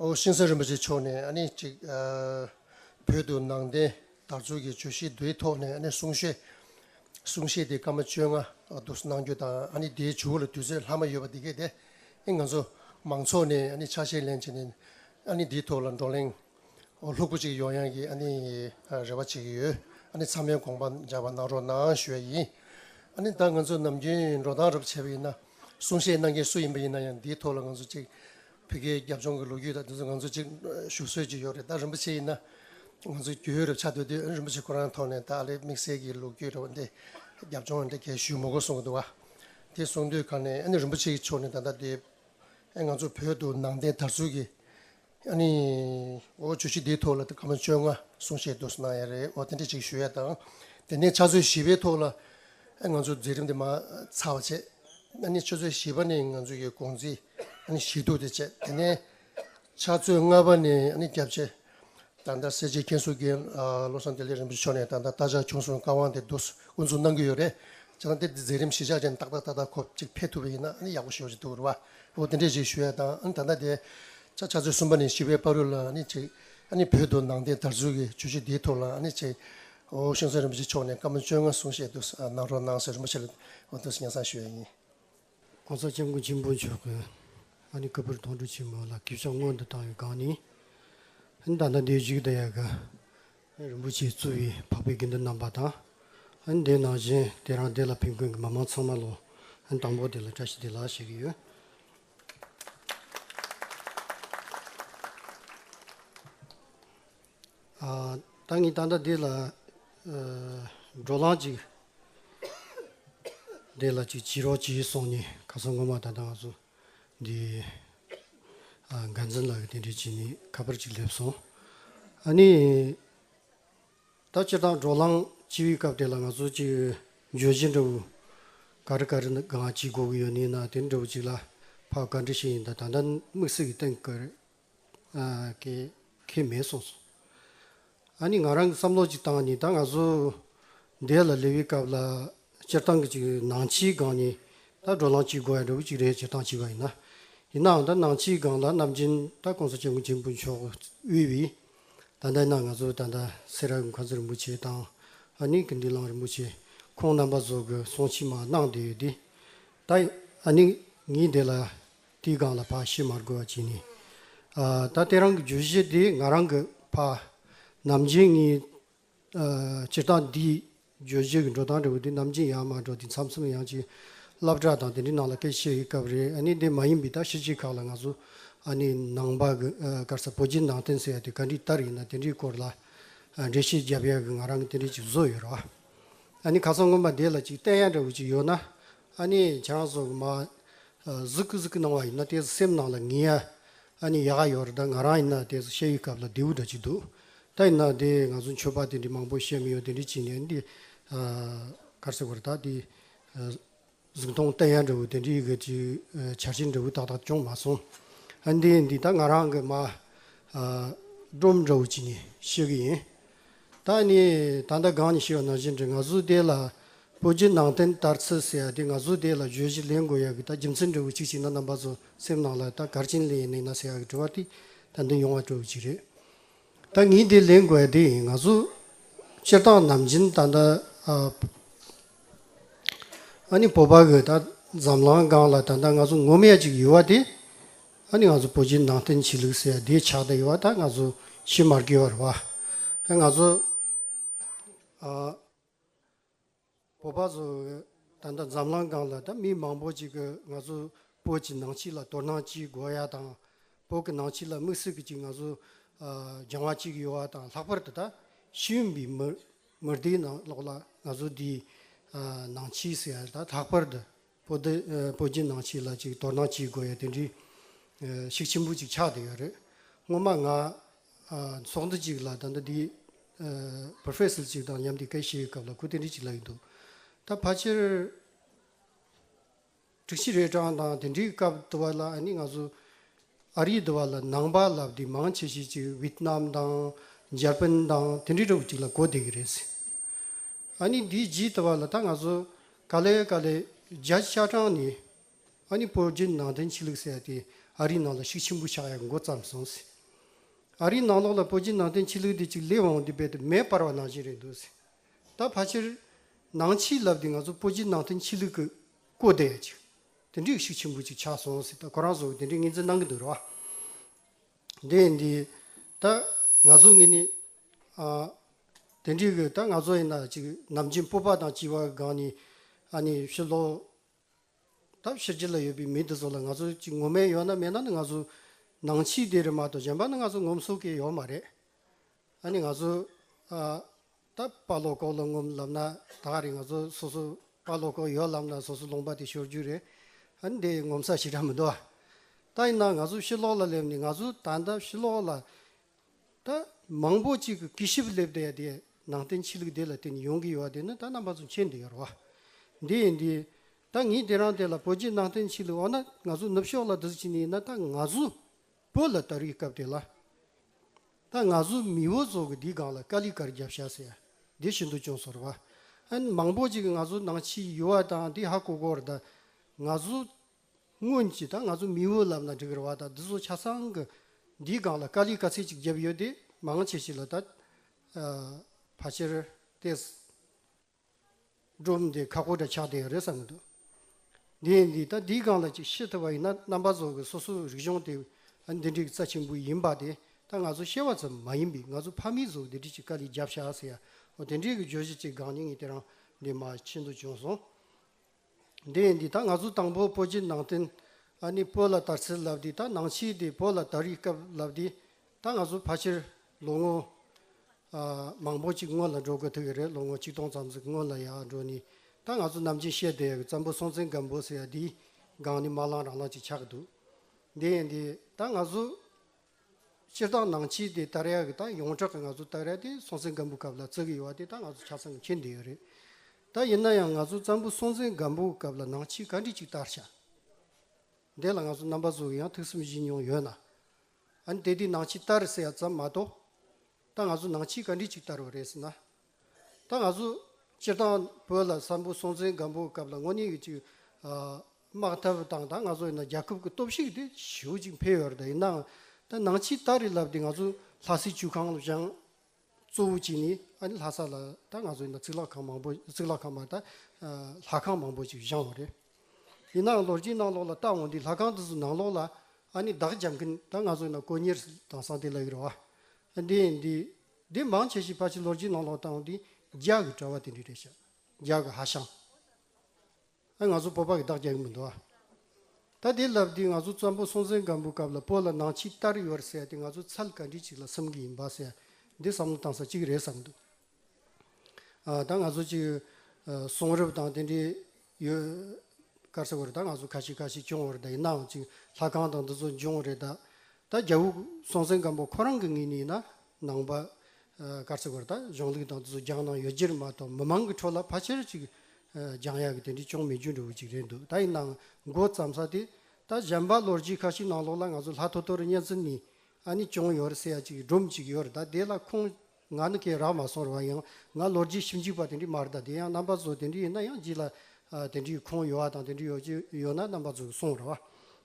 ཤིང་བཟའ་རིན་པོ་ཆེ་མཆོག་ནས་གཅིག་བོད་དུ་ནང་བསྟན་དར་ཚུགས་ཀྱི་བརྗོད་གཞི་དེའི་ཐོག་ནས་གསུང་བཤད་གསུང་བཤད་དེ་སྐར་མ་བཅོ་ལྔ་དུ་གནང་རྒྱུ་དང་དེའི་ཇུས་འགོད་ལ་དུས་ཚོད་ལྷག་མ་ཡོད་པ་དེ་གལ་ཏེ་ང་ཚོ་མང་ཚོགས་ནས་ཆ་ཤས་ལེན་བྱས་ནས་དེའི་ཐོག་ལ་བགྲོ་གླེང་ལྷུག་པོ་གཅིག་ཡོང་ཡང་གི་རེ་བ་བྱེད་ཀྱི་ཡོད་ཚང་མས་དགོངས་པ་འཇགས་པ་གནང་རོགས་གནང་ཞུ་བ་ཡིན། ད་ང་ཚོ་ནམ་རྒྱུན་འགྲོ་སྟངས་རབ་བྱེད་པ་ཡིན་ན་གསུང་བཤད་གནང་མཁན་སུ་ཡིན་པ་ཡིན་ན་ཡང་དེའི་ཐོག་ལ་ང་ཚོ་གཅིག་བོད་སྐད་རྒྱབ་ལྗོངས་ཀྱི་ལོ་རྒྱུས་དང་དེ་ཚོ་ང་ཚོ་གཅིག་ཞུ་སྲོལ་གྱི་ཡོད་རེད་ད་རིན་པོ་ཆེ་ཡིན་ན་ང་ཚོ་བརྒྱུད་ཡོད་རེད་ཆ་འདོད་དུས་རིན་པོ་ཆེ་ཁོ་རང་ཐོག་ནས་ད་ཨ་ལེ་དམིགས་བསལ་གྱི་ལོ་རྒྱུས་རེ་བ་འདི་རྒྱབ་ལྗོངས་འདི་གས་ཞུས་མོ་གོ་གསུངས་ཀྱི་འདུག་ག་དེ་གསུངས་དུས་ག་ནས་ཨ་ནི་རིན་པོ་ཆེ་གི་ཕྱོགས་ནས་ད་ལྟ་དེ་ཨ་ང་ཚོ་བོད་དུ་ནང་བསྟན་དར་ཚུལ་གྱི་ཨ་ནི་འོ་བྱུས་ཤིག་དེའི་ཐོག་ལ་དེ་ག་མ་བཅོ་ལྔ་གསུངས་བཤད་དུ་གནང་ཡ་རེད་འོ་དེ་འདྲ་ཅིག་ཞུ་ཡ་དང་དེ་ནས་ཕྱག་ཚོད་བཞི་པའི་ཐོག་ལ་ང་ཚོས་མཛད་རིམ་དེ་མ་ཚར་བ་བྱས། ཨ་ནི་ཆུ་ཚོད་བཞི་པ་ནས་ང་ཚོ་ཡི་དགོང་ཚིག་ཨ་ནི་ཞིག་འདུག་དེ་བྱས། དེ་ནས་ཆ་ཚོད་ལྔ་པ་ནས་ཨ་ནི་རྒྱབ་བྱས། ད་ལྟ་སེར་བྱེས་མཁན་ཟུར་རྒན་བློ་བཟང་བདེ་ལེགས་རིན་པོ་ཆེ་མཆོག་ནས་ད་ལྟ་རྟ་ལྕག་བྱུང་སོང་བཀའ་དབང་དེ་བསྡུ་བསྐུར་མཚུངས་གནང་གི་ཡོད་རེད། བྱས་ཙང་དེ་འདི་མཛད་རིམ་གཞི་ཆགས་ཅན་ཏག་ཏག་ཏག་ཏག་ཁོ་གཅིག་ཕེབས་ཐུབ་པ་ཡིན་ན་ཨ་ནི་ཡག་པོ་ཞུ་བཞིན་འདུག་རེད་བ། ཨོ་དེ་འདྲས་ཞིག་ཞུ་ཡ་དང་ཨ་ནི་ད་ལྟ་དེ་ཆ་ཆ་ཚོད་གསུམ་པ་ནས་བཞི་པའི་པར་རོལ་ལ་ཨ་ནི་བྱས། ཨ་ནི་བོད་དུ་ནང་བསྟན་དར་ཚུལ་གྱི་བརྗོད་གཞི་འདིའི་ཐོག་ལ་ཨ་ནི་བྱས། ཧོ་ཤིང་ཚོན་རིན་པོ་ཆེ་མཆོག་ནས་བཀའ་མོལ་བཅོ་ལྔ་གསུང་བཤད་དུ་གནང་རོགས་གནང་སོས་རིན་པོ་ཆེ་ལ་ཐུགས་སྙན་གསང་ཞུ་ཡས་ཡིན། གོང་ས་སྐྱབས་མགོན་ཆེན་པོ་མཆོག་གི་ཨ་ནི་ཀ་པུར་དོང་སྤྲུགས་ཆེན་མོ་ལ་གུས་ཕྱག་སྔོན་དུ་བཏང་བའི་སྒང་ནས། ཨ་ནི་ད་ལྟ་འདིའི་རྒྱུད་དང་ཡལ་ག་རིན་པོ་ཆེས་གཙོས་བའི་འཕགས་པའི་དགེ་འདུན་རྣམ་པ་དང། ཨ་ནི་དེའི་ནང་བཞིན་དེ་རང་སྡེ་ལ་ཕེབས་མཁན་གྱི་མི་མང་ཚང་མ་ལོ་ཨ་ནི་དང་པོ་དེ་ལ་བཀྲ་ཤིས་བདེ་ལགས་ཞུ་གི་ཡོད། བདག་ཉིད་ད་ལྟ་འདི་ལ་འགྲོ་ལམ་ཅིག་འདི་ལ་ཅིག་བྱིས་རོགས་བྱིས་སོང་ནས་ག་ས་ངོ་མ་ད་ལྟ་ང་ཚོ་འདི་འགན་འཛིན་ལགས་ཀྱི་དེ་འདྲས་བྱས་ནས་ཁ་པར་ཅིག་སླེབས་སོང། ཨ་ནི་ད་སྤྱིར་བཏང་འགྲོ་ལམ་བྱིས་པའི་སྐབས་དེ་ལ་ང་ཚོ་ཅིག་འགྱོད་བཞིན་འདྲ་བོ་ག་རེ་ག་རེ་གང་ཅིག་གོ་གི་ཡོད་ནི་ན་དེ་འདྲ་བོ་ཅིག་ལ་ཕ་ག་འདྲ་ཞིག་ཡིན་ད་ད་ལྟ་དམིགས་བསལ་གྱི་གཏན་གི་ག་རེ་ཀྱི་ཁེ་མེད་གསུངས་སོང། ཨ་ནི་ང་རང་གི་བསམ་བློ་ཅིག་བཏང་ནས་ད་ང་ཚོ་འདས་ལ་ལེ་བའི་སྐབས་ལ་སྤྱིར་བཏང་གི་ཅིག་ནང་ཆིའི་སྒང་ནས་ད་འགྲོ་ལམ་ཅིག་དགོས་ཡ་འདྲ་བོ་ཅིག་རེད་ཅེས་བཏང་བྱས་པ་ཡིན། ཡིན་ནའང་ད་ནང་ཆིའི་སྒང་ལ་རྣམ་མཁྱེན་ད་གོང་ས་སྐྱབས་མགོན་ཆེན་པོ་མཆོག་དབུས་བས་ད་ལྟ་ན་ང་ཚོ་ད་ལྟ་སེ་ར་གི་མཁའ་མཛོད་རིན་པོ་ཆེ་དང་ཨ་ནི་ཀི་འདི་ལང་རིན་པོ་ཆེ་ཁོང་རྣམ་པ་ཚོ་གི་གསུང་ཕྱི་མ་གནང་བསྡད་ཡོད་དེ། ད་ཨ་ནི་ངའི་འདས་ལ་དེའི་སྒང་ལ་ཕ་ཤི་མར་རྒོལ་བ་བྱས་ནས། ད་ལྟའི་རང་གི་བརྗོད་གཞི་འདི་ང་རང་གི་ཕ་ནམ་རྒྱུན་ངའི་སྤྱིར་བཏང་འདིའི་བརྗོད་གཞི་གི་འགྲོ་སྟངས་འདྲ་བོ་འདི་ནམ་རྒྱུན་ཡང་མ་འགྲོ་དེ་མཚམས་མཚམས་ཡང་ཅིག་བསླབ་གྲྭ་དང་དེ་འདྲའི་ནང་ལ་སྐད་ཆ་བཤད་ཡོད་སྐབས་རེད་ཨ་ནི་དེ་མ་ཡིན་པའི་ད་ཤི་ཅིག་ཁག་ལ་ང་ཚོ་ཨ་ནི་ནང་པ་གི་སྐར་ས་བོད་བརྒྱུད་ནང་བསྟན་ཟེར་ཡ་དེ་ག་འདྲི་ལྟར་ཡིན་ན་དེ་འདྲའི་སྐོར་ལ་འགྲེལ་བཤད་རྒྱབ་ཡ་གི་ང་རང་གི་དེ་འདྲའི་ཅིག་བཟོ་ཡོད་རོགས་ཨ་ནི་ཁ་སང་སྔོན་མ་དེ་ལ་ཅིག་བལྟས་ཡ་འདྲ་བོ་ཅིག་ཡོད་ན་ཨ་ནི་ཁྱེད་རང་ཚོ་གི་མ་གཟིགས་གཟིགས་གནང་བ་ཡིན་ན་དེ་སེམས་ནང་ལ་ངི་ཡ་ཨ་ནི་ཡག་ག་ཡོད་རེད་ད་ང་རང་ཡིན་ན་དེ་བཤད་ཡུལ་སྐབས་ལ་རྡེའུ་འདྲ་གཅིག་འདུག་ད་ཡིན་ན་དེ་ང་ཚོ་མཆོད་པ་དེ་འདྲི་མང་པོ་བཤད་མི་ཡོད་དེ་འདྲི་བྱིན་ནས་འདི་གར་སེ་བར་ད་དེ་གཟིགས་མཐོང་བལྟ་ཡ་འདྲ་བོ་དེ་འདྲི་གི་ཅིག་བྱ་བྱེད་འདྲ་བོ་ཏག་ཏག་ཅོང་མ་སོང་ཨ་འདི་འདི་ད་ང་རང་གི་མ་སྒྲོམ་འདྲ་བོ་གཅིག་ནས་བཤད་གི་ཡིན་ད་ནི་ད་ལྟ་གང་ནས་ཤི་བ་ནར་གྱིས་འདྲི་ང་གཟུགས་དེ་ལ་སྤོ་རྒྱུ་ནང་བསྟན་ལྟར་ཚུལ་ཟེར་ཡ་དེ་ང་གཟུགས་དེ་ལ་བརྗོད་གཞི་ལེན་དགོས་ཡ་གི་ད་རྒྱུ་མཚན་འབྲས་བུ་གཅིག་གཅིག་ན་རྣམ་པ་ཚོ་སེམས་ནང་ལ་ད་གར་ཕྱིན་ལེན་ཡིན་ནི་ན་ཟེར་ཡ་གི་དྲི་བ་དེ་ད་འདི་ཡོང་བ་སྤྲོ་བའི་གཅིག་རེད་ད་ངས་དེ་ལེན་དགོས་ཡ་དེ་ཡིན་ང་གཟུགས་སྤྱིར་བཏང་ནམ་བྱིན་ད་ད་ཨ་ནི་སྤོ་པ་གི་ད་འཛམ་ལང་སྒང་ལ་ད་ད་ང་གཟུགས་ངོ་མ་ཡ་གཅིག་ཡོད་བ་དེ། ཨ་ནི་ང་ཚོ་བོད་ཀྱི་ནང་བསྟན་ཆོས་ལུགས་ཟེར་ཡ་དེ་ཆགས་བསྡད་ཡོད་པ་ད་ང་ཚོ་ཤེས་མར་གྱི་ཡོད་རེད་བ། ང་ཚོ་བོད་པ་ཚོ་ད་ལྟ་འཛམ་གླང་སྒང་ལ་ད་མི་མང་པོ་ཅིག་གི་ང་ཚོ་བོད་ཀྱི་ནང་ཆོས་ལ་དོ་སྣང་བྱེད་དགོས་ཡ་དང། བོད་ཀྱི་ནང་ཆོས་ལ་དམིགས་བསལ་གྱི་ཅིག་ང་ཚོ་སྦྱང་བ་བྱེད་ཀྱི་ཡོད་བ་དང་ལྷག་པར་དུ་ད་ཤེས་ཡོན་པའི་མི་མི་སྡེའི་ནང་ལོགས་ལ་ང་ཚོ་འདིའི་ནང་ཆོས་ཟེར་ཡ་ད་ལྷག་པར་དུ་པོ་ཏི་པོ་རྒྱུ་ནང་ཞིག་ལ་ཅིག་དོ་སྣང་བགྱིད་དགོས་ཡོད་དེ་འདྲི་ཞིག་ཆེན་པོ་ཅིག་ཆགས་བསྡད་ཡོད་རེད་སྔོན་མ་ང་ཚོགས་འདུ་ཅིག་ལ་ད་ལྟ་འདིའི Professor ཅིག་དང་མཉམ་དེ་སྐད་བཤད་སྐབས་ལ་ཁུ་དེ་འདྲི་ཅིག་ལབ་ཡི་འདུག་ད་ཕ་ཆེར་དྲུག་ཅི་རེད་གྲང་དང་དེ་འདྲི་སྐབས་དུ་བ་ལ་ཨ་ནི་ང་ཚོ་ཨ་རི་དུ་བ་ལ་ནང་པ་ལབ་དེ་མང་ཆེ་ཤེས་ཅིག Vietnam དང Japan དང་དེ་འདྲི་འདྲ་བོ་ཅིག་ལ་གོ་བསྡད་གི་རེད་ཟེར། ཨ་ནི་འདི་ཇི་ལྟ་བ་ལ་ད་ང་ཚོ་ག་ལེ་ག་ལེ་རྒྱ་ཆ་དྲངས་ནས་ཨ་ནི་བོད་བརྒྱུད་ནང་བསྟན་ཆོས་ལུགས་ཟེར་ཏེ་ཨ་རིའི་ནང་ལ་ཤུགས་ཆེན་པོ་ཆགས་ཡག་མགོ་བརྩམས་སོང་ཟེར། ཨ་རིའི་ནང་ལོགས་ལ་བོད་བརྒྱུད་ནང་བསྟན་ཆོས་ལུགས་འདི་གཅིག་ལས་འོང་འདི་རྦད་དེ་མེད་པར་བ་ནང་བཞིན་རེད་འདུག་ཟེར། ད་ཕ་ཕྱིར་ནང་ཕྱིར་ལབ་སྟེ་ང་ཚོ་བོད་བརྒྱུད་ནང་བསྟན་ཆོས་ལུགས་ཀྱི་སྐོར་དེ་ཡ་ཅིག་དེ་འདྲའི་ཤུགས་ཆེན་པོ་ཅིག་ཆགས་སོང་ཟེར་ད་ཁོ་རང་ཚོ་དེ་འདྲའི་ངེས་འཛིན་གནང་གི་འདུག་རེད་བ། དེ་འདི་ད་ང་ཚོ་ངེད་ནི། དེ་འདྲའི་གི་ད་ང་ཚོ་ཡིན་ན་ཅིག་ནམ་རྒྱུན་སྤོབས་པ་དང་ལྕི་བ་སྒང་ནས་ཨ་ནི་ཕྱིར་ལོག་སྟབས་ཕྱི་རྒྱལ་ལ་ཡོད་པའི་མི་འདི་ཚོ་ལ་ང་ཚོ་ཅིག་ངོ་མས་ཡོད་ན་མེད་ན་ནི་ང་ཚོ་ནང་ཆིག་སྡེ་རེད་མ་གཏོགས་གཞན་པ་ནི་ང་ཚོ་ངོམ་སོ་གི་ཡོད་མ་རེད། ཨ་ནི་ང་ཚོ་ད་དཔའ་ལོག་ལྐོག་ལོག་ངོམ་ལབ་ན་ད་ག་རེ་ང་ཚོ་སོ་སོ་དཔའ་ལོག་ལྐོག་ཡོད་ལབ་ན་སོ་སོ་ལོང་པ་དེ་ཤོར་རྒྱུ་རེད། ཨ་ནི་དེ་ངོམ་ས་ཞིག་ར་མི་འདུག་ཨ། ད་ཡིན་ན་ང་ཚོ་ཕྱི་ལོག་ལ་སླེབས་ནས་ང་ཚོ་ད་ལྟ་ཕྱི་ལོག་ལ་ད་མང་པོ་གཅིག་གི་གི་ཞིབ་སླེབས་ཏེ་དེ་ནང་བསྟན་ཕྱི་ལུགས་བདེ་ལ་བརྟེན་ཡོང་གི་ཡོད་དེ་ནི་ད་རྣམ་པ་ཚོ་མཁྱེན་དུ་ཡོད་རོ། འདི་ཡིན་འདི་ཡིན། ད་ངས་དེ་རང་དེ་ལ་བོད་རྗེས་ནང་བསྟན་ཕྱི་ལུགས་འོ་ན་ང་ཚོ་ནུབ་ཕྱོགས་ལ་འདིར་ཅི་ནས་ཡིན་ན་ད་ང་ཚོ་བོད་ལ་ད་རིའི་སྐབས་དེ་ལ་ད་ང་ཚོ་མི་བོ་ཚོ་གི་འདིའི་སྒང་ལ་ཀ་ལི་ཀར་རྒྱབ་ཤ་ཟེ་འདི་ཤིན་ཏུ་ཅུང་སོར་བ་ཨན་མང་པོ་གཅིག་ང་ཚོ་ནང་ཕྱི་ཡུལ་བ་དང་འདི་ཧ་གོ་གོར་ད་ང་ཚོ་སྔོན་གྱི་ད་ང་ཚོ་མི་བུ་ལབ་ན་འགྲིག་རེད་བ་ད་འདི་ཚོ་ཆ་ཚང་གི་འདིའི་སྒང་ལ་དཀའ་ལས་དཀའ་ཚེགས་ཅིག་བརྒྱབ་ཡོད་དེ་མང་ཆེ་ཞིག་ལ་ད་ཕ་ཆེར་ཏེས་སྒྲུབ་འདི་ཁག་པོ་འདྲ་ཆགས་བསྡད་ཡོད་རེད་བསམ་གྱི་འདུག་འདི་འདི་ད་འདིའི་སྒང་ལ་ཅིག་ཤེས་ཐུབ་པ་ཡིན་ན་རྣམ་པ་ཚོ་གི་སོ་སོ་རིག་གཞུང་དེ་འདི་འགྲིག་རྩ་ཆེན་པོ་ཡིན་པ་དེ་ད་ང་ཚོ་ཤེས་བ་ཙམ་མ་ཡིན་པའི་ང་ཚོ་ཕ་མེས་ཚོ་འདི་འདྲི་ཅིག་དཀའ་ལས་བརྒྱབ་ཤག་ཟེར་ཡ་འོ་དེ་འདྲའི་གི་བརྗོད་གཞི་ཅིག་སྒང་ཉིན་གྱི་དེ་རང་འདི་མ་ཕྱི་འདུག་བྱུང་སོང། འདི་ཡིན་འདི་དག་ང་ཚོ་དང་པོ་པོ་ཇི་ནང་བསྟན་ཨ་ནི་པོ་ལ་དར་ཚིལ་ལབ་འདི་དག་ནང་ཕྱིའི་དེ་པོ་ལ་དར་ཡི་སྐབས་ལབ་འདི་དག་ང་ཚོ་ཕ་ཕྱིར་ལོ་ངོ་མང་པོ་ཅིག་སྔོན་ལ་འགྲོ་དགོས་ཐུག་གི་རེད་ལོ་ངོ་གཅིག་སྟོང་ཙམ་ཟིག་སྔོན་ལ་ཡང་འགྲོ་ནི་ད་ང་ཚོ་ནམ་ཅིང་ཤེས་བསྡད་ཡ་གི་ཙམ་པོ་སྲོང་བཙན་སྒམ་པོ་ཟེར་ཡ་འདིའི་སྒང་ནི་མ་ལང་རང་ལང་ཅིག་ཆགས་གི་འདུག་འདི་ཡིན་འདི་ད་ང་ཚོ། སྤྱིར་བཏང་ནང་ཆེས་དེ་ལྟར་ཡག་གི་དང་ཡོངས་གྲགས་ཀྱི་ང་ཚོ་ལྟར་ཡག་དེ་སྲོང་བཙན་སྒམ་པོའི་སྐབས་ལ་བརྩི་གི་ཡོད་བ་དེ་དང་ང་ཚོ་ཆ་ཚང་གི་མཁྱེན་དེ་ཡོད་རེད་ད་ཡིན་ན་ཡང་ང་ཚོ་ཙམ་པོ་སྲོང་བཙན་སྒམ་པོའི་སྐབས་ལ་ནང་ཆེས་ག་འདྲི་ཅིག་ལྟར་བྱ་འདི་ལ་ང་ཚོ་རྣམ་པ་ཚོ་ཡང་ཐུགས་སེམས་གཞིག་མྱོང་ཡོད་ན་ཨ་ནི་དེ་དུས་ནང་ཆེས་ལྟར་ཟེར་ཡག་ཙམ་མ་གཏོགས་ད་ང་ཚོ་ནང་ཆེས་ག་འདྲི་ཅིག་ལྟར་བ་རེད་ཟེར་ན་ད་ང་ཚོ་སྤྱིར་བཏང་བོད་ལ་ས་འབུ་སྲོང་བཙན་སྒམ་པོའི་སྐབས་ལ་དངོས་གནས་ཀྱི་ཅིག་དམག་འཐབ་དང་ད་ང་ཚོ་ཡིན་ན་རྒྱལ་ཁབ་ཀྱི་སྟོབས་ཤུགས་དེ་ཞེའུ་ཅིག་འཕེལ་ཡོད་རེད་ད་ཡིན་ནའང་ད་ནང་ཕྱི་སྟག་རི་ལབ་དེ་ང་ཚོ་ལྷ་སའི་ཆུ་ཁང་ལ་བཞེངས་གཙོ་བོ་གཅིག་ནི་ཨ་ནི་ལྷ་ས་ལ་ད་ང་ཚོ་ཡིན་ན་རྩིག་ལག་ཁང་མང་པོ་རྩིག་ལག་ཁང་མ་ད་ལྷ་ཁང་མང་པོ་ཅིག་བཞེངས་བ་རེད། ཡིན་ནའང་ལོ་རྒྱུས་ནང་ལོགས་ལ་བལྟ་འོང་དུས་ལྷ་ཁང་དེ་ཚོ་ནང་ལོགས་ལ་ཨ་ནི་བདག་སྦྱང་མཁན་ད་ང་ཚོ་ཡིན་ན་དཀོན་གཉེར་དང་སང་དེ་ལ་ཡོད་རེད་བ། འདི་ཡིན་འདི་འདི་མང་ཆེ་ཞིག་ཕ་ཆིང་ལོར་གྱི་ནང་ལོག་བཏང་འདི་རྒྱག་གི་བྲོ་བ་དེ་འདྲི་རེད་ཤག་རྒྱག་གི་ཧ་ཤང་ཨ་ང་ཚོ་སྤོ་པ་གི་བདག་རྒྱག་གི་མི་འདུག་ཨ་ད་དེ་ལབ་དུས་ང་ཚོ་ཙམ་པོ་སྲོང་བཙན་སྒམ་པོའི་སྐབས་ལ་སྤོ་ལ་ནང་ཆིག་ལྟར་ཡོད་ཟེར་དེ་ང་ཚོ་ཚལ་ག་འདྲི་ཅིག་ལ་སེམས་གི་ཡིན་པ་ཟེར་འདི་བསམ་བློ་བཏང་ས་གཅིག་རེད་བསམ་འདུག་ཨ་ད་ང་ཚོ་གཅིག་གསུང་རབ་དང་དེ་འདྲི་ཡོད། སྐར་ཚེ་བོ་རེད་ད་ང་ཚོ་ཁ་ཤི་ཁ་ཤི་སྐྱོང་བ་རེད་ད་ཡིན་ནའང་ཅིག་ལྷ་ཁང་དང་འདི་ཚོ་འབྱུང་བ་རེད་ད། ད་རྒྱ་བོ་སྲོང་བཙན་སྒམ་པོ་ཁོ་རང་གི་ངོས་ནས་ཡིན་ན་ནང་པ། སྐར་ཚེ་བོ་རེད་ད་གཞུང་ལུགས་དང་འདི་ཚོ་རྒྱང་ནང་ཡོད་རྗེས་མ་གཏོགས་མི་མང་གི་ཁྲོད་ལ་ཕ་ཆེར་ཅིག་རྒྱང་ཡག་གི་དེ་འདྲའི་ཅུང་མི་འཇུ་འདྲ་བོ་ཅིག་རེད་འདུག་ད་ཡིན་ནའང་མགོ་བརྩམ་ས་དེ། ད་གཞན་པ་ལོ་རྒྱུས་ཁ་ཤི་ནང་ལོགས་ལ་ང་ཚོ་ལྷ་ཐོ་ཐོ་རུ་གཉན་ཚུལ་ནི་ཨ་ནི་ཅུང་ཡོད་རེད་ཟེར་ཡ་ཅིག་སྒྲོམ་ཅིག་ཡོད་རེད་ད་དེ་ལ་ཁུངས་ང་ནི་སྐད་རགས་མ་སོང་རུང་ཡང་ང་ལོ་རྒྱུས་ཞིབ་འཇུག་པ་དེ་འདྲའི་མ་རེད་ད་དེ་ཡང་རྣམ་པ་གཟུགས་དེ་འདྲའི་ཡིན་ན་ཡང་འཇིག་ལ་དེ་འདྲའི་ཁོངས་ཡོད་བ་དང་དེ་འདྲའི་ཡོད་ཀྱི་ཡོད་ན་རྣམ་པ་གཟུགས་སོང་རེད་བ་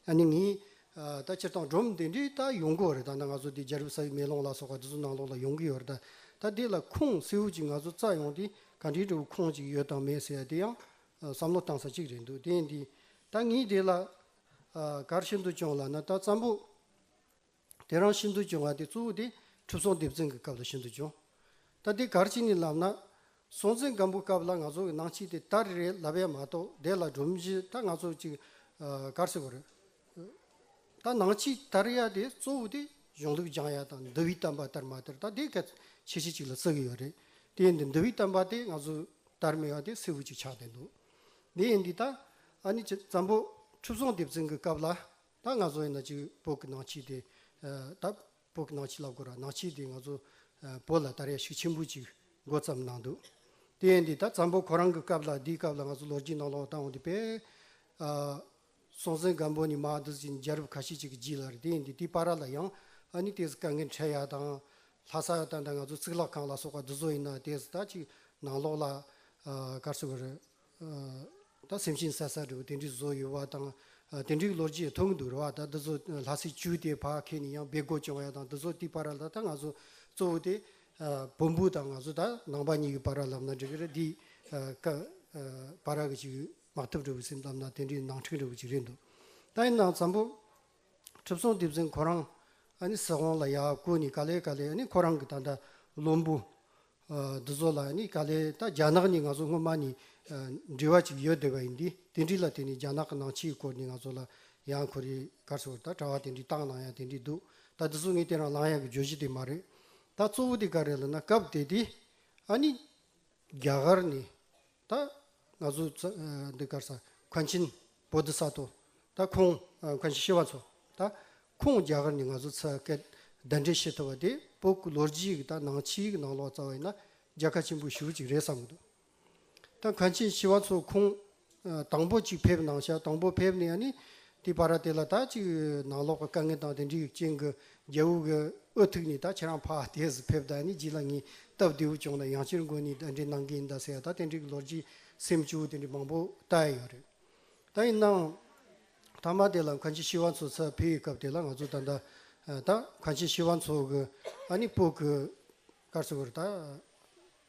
ཨ་ནི་ངའི་ད་སྤྱིར་བཏང་སྒྲོམ་དེ་འདྲའི་ད་ཡོང་གི་ཡོད་རེད་ད་ནང་ང་ཚོ་འདི་རྒྱ་རིབ་ས་ཡི་མེ་ལོང་ལ་སོགས་པ་འདི་ཚོ་ནང་ལོགས་ལ་ཡོང་གི་ཡོད་རེད་ད་ད་དེ་ལ་ཁུངས་སེའུ་ཅིག་ང་ཚོ་བཙལ་ཡོང་དེ་ག་འདྲའི་འདྲ་བོ་ཁོངས་ཅིག་ཡོད་དང་མེད་ཟེར་ཡ་དེ་ཡང་བསམ་བློ་བཏང་ས་ཅིག་རེད་འདུག་དེ་ཡིན་དུས་ད་ངས་དེ་ལ་གར་ཤིན་ཏུ་ཅུང་ལ་ན་ད་བཙན་པོ། དེ་རང་ཤིན་ཏུ་འབྱུང་བ་དེ་གཙོ་བོ་དེ་ཁྲིབ་སོང་སྡེབ་འཛིན་གྱི་སྐབས་ལ་ཤིན་ཏུ་འབྱུང། ད་འདི་གར་ཅི་ནི་ལབ་ན། སྲོང་བཙན་སྒམ་པོའི་སྐབས་ལ་ང་ཚོ་གི་ནང་ཆིག་དེ་ད་རེ་རེ་ལབ་ཡས་མ་གཏོགས་དེ་ལ་སྒྲོམ་གཞི་ད་ང་ཚོ་ཅིག་གར་སེ་བ་རེད། ད་ནང་ཆིག་དར་ཡས་དེ་གཙོ་བོ་དེ་གཞུང་ལུགས་སྦྱང་ཡས་དང་འདི་བི་དམ་པ་དར་མ་དར་ད་དེ་གད་ཆེ་ཆེ་ཅིག་ལ་བརྩི་གི་ཡོད་རེད། དེ་འདི་འདི་བི་དམ་པ་དེ་ང་ཚོ་དར་མི་ཡས་དེ་སེ་བུ་ཅིག་ཆགས་བསྡད་འདུག་དེ་ཡས་འདི་ད་ཨ་ནི་ཅི་ཙམ་པོ་ཁྲིབ་སོང་སྡེབ་འཛིན་གྱི་སྐབས་ལ་ད་ང་ཚོ་ཡིན་ན་གཅིག་བོད་ཀྱི་ནང་ཆོས་དེ། ད་བོད་ཀྱི་ནང་ཆོས་ལབ་དགོས་ར་ནང་ཆོས་དེ་ང་ཚོ་བོད་ལ་ད་རེ་ཤུགས་ཆེན་པོ་ཅིག་མགོ་བརྩམས་གནང་འདུག་དེ་ཡན་དེ་ད་འཛམ་བུ་ཁོ་རང་གི་སྐབས་ལ་དེའི་སྐབས་ལ་ང་ཚོ་ལོ་རྒྱུས་ནང་ལོག་ལྟ་འོང་དེ་དཔེ། སྲོང་བཙན་སྒམ་པོ་ནི་མ་འདི་ཅིག་རྒྱལ་རབས་ཁ་ཤས་ཅིག་གི་རྗེས་ལ་རེད་དེ་ཡན་དེ་དེའི་པར་ར་ལ་ཡང་ཨ་ནི་དེ་སྐབས་ངའི་འཕྲལ་ཡ་དང། ལྷ་ས་ཡ་དང་ད་ང་ཚོ་གཙུག་ལག་ཁང་ལ་སོགས་པ་འདི་ཚོ་ཡིན་ན་དེ་ད་ཅིག་ནང་ལོག་ལ་དཀར་སེ་བ་རེད། ད་སེམས་ཤིང་སད་སད་འདུག་དེ་འདྲའི་བཟོ་ཡོད་པ་དང་དེ་འདྲའི་ལོ་རྒྱུས་མཐོང་གི་འདུག་རེ་བ་ད་འདི་ཚོ་ལྷ་སའི་ཅུའུ་དེའི་ཕ་ཁེ་ནས་ཡང་སྦེད་དགོས་བྱུང་བ་ཡང་དང་འདི་ཚོ་དེའི་པར་ལ་ད་ང་ཚོ་གཙོ་བོ་དེ་བོན་པོ་དང་ང་ཚོ་ད་ནང་པ་གཉིས་ཀྱི་པར་ར་ལབ་ན་འགྲིག་གི་རེད་འདི་པར་ར་གི་ཅིག་མ་ཐུབ་འགྲོ་གི་སེམས་ཙམ་ན་དེ་འདྲའི་ནང་འཁྲིག་འགྲོ་གི་ཅིག་རེད་འདུག་ད་ཡིན་ནའང་འཚམ་པོ་གྲུབ་སོང་དེ་བཞིན་ཁོ་རང་ཨ་ནི་སྲིད་དབང་ལ་ཡག་བཀོད་ནས་ག་ལེ་ག་ལེ་ཨ་ནི་ཁོ་རང་གི་ད་ལྟ་བློན་པོ་འདི་ཚོ་ལ་ནི་ག་ལེར་ད་རྒྱ་ནག་ནི་ང་ཚོ་སྔོན་མ་ནི་འབྲེལ་བ་ཅིག་ཡོད་བསྡད་པ་ཡིན་དུས་དེ་འདྲི་ལ་དེ་ནི་རྒྱ་ནག་གི་ནང་ཕྱི་ཡི་སྐོར་ནི་ང་ཚོ་ལ་ཡང་ཁོ་རེ་གར་ཚོར་ད་དྲ་བ་དེ་འདྲི་བཏང་ན་ཡང་དེ་འདྲི་འདུག་ད་འདི་ཚོ་ངས་དེ་རང་ལང་ཡག་གི་བརྗོད་གཞི་དེ་མ་རེད་ད་གཙོ་བོ་དེ་ག་རེ་ལ་ན་སྐབས་དེ་དུས་ཨ་ནི་རྒྱ་གར་ནི་ད་ང་ཚོ་འདི་གར་ས་གྷན་ཆིན་བོ་དྷི་སཱ་ཏོ་ད་ཁོང་གྷན་ཆིན་ཤི་བ་ཚོ་ད་ཁོང་རྒྱ་གར་ནས་ང་ཚོ་ཚ་སྐད་བདའ་འདྲེ་ཤི་ཐུབ་པ་དེ་པོ་སྐུ་ལོ་རྒྱུས་ཀྱི་ད་ནང་ཕྱིའི་གི་ནང་ལོག་རྩ་བ་ཡིན་ན་རྒྱལ་ཁ་ཆེན་པོ་ཞུ་ཅིག་རེད་བསམ་གི་འདུག་ད་གྷན་ཆིན་ཤི་བ་ཚོ་ཁོང་དང་པོ་ཅིག་ཕེབས་ནང་ཤག་དང་པོ་ཕེབས་ནས་ནི་དེ་པ་ར་དེ་ལ་ད་ཅིག་ནང་ལོག་གི་དཀའ་ངལ་དང་དེ་འདྲའི་ཅན་གི་རྒྱལ་བུ་གི་ཨོ་ཐུག་ནས་ད་ཁྱེད་རང་ཕ་ལྟས་སུ་ཕེབས་ད་ནི་རྗེས་ལ་ངས་སྟབས་བདེ་བོ་བྱུང་ན་ཡང་སྤྱིར་མགོ་ནས་ཟླ་འདྲེ་གནང་གིན་གདའ་སའི་ད་དེ་འདྲའི་གི་ལོ་རྒྱུས་སེམས་སྐྱོ་དེ་འདྲའི་མང་པོ་ལྟ་ཡི་ཡོད་རེད། ད་ཡིན་ནའང་ད་མ་དེ་ལ་མཁན་ཆེན་ཤེས་བ་འཚོ་ཚར་ཕེབས་ཡི་སྐབས་དེ་ལ་ང་ཚོ་ད་ད་མཁན་ཆེན་ཤེས་བ་འཚོ་གི་ཨ་ནི་སྤོ་གི་སྐར་ཚོགས་ཀྱི་ར་ད།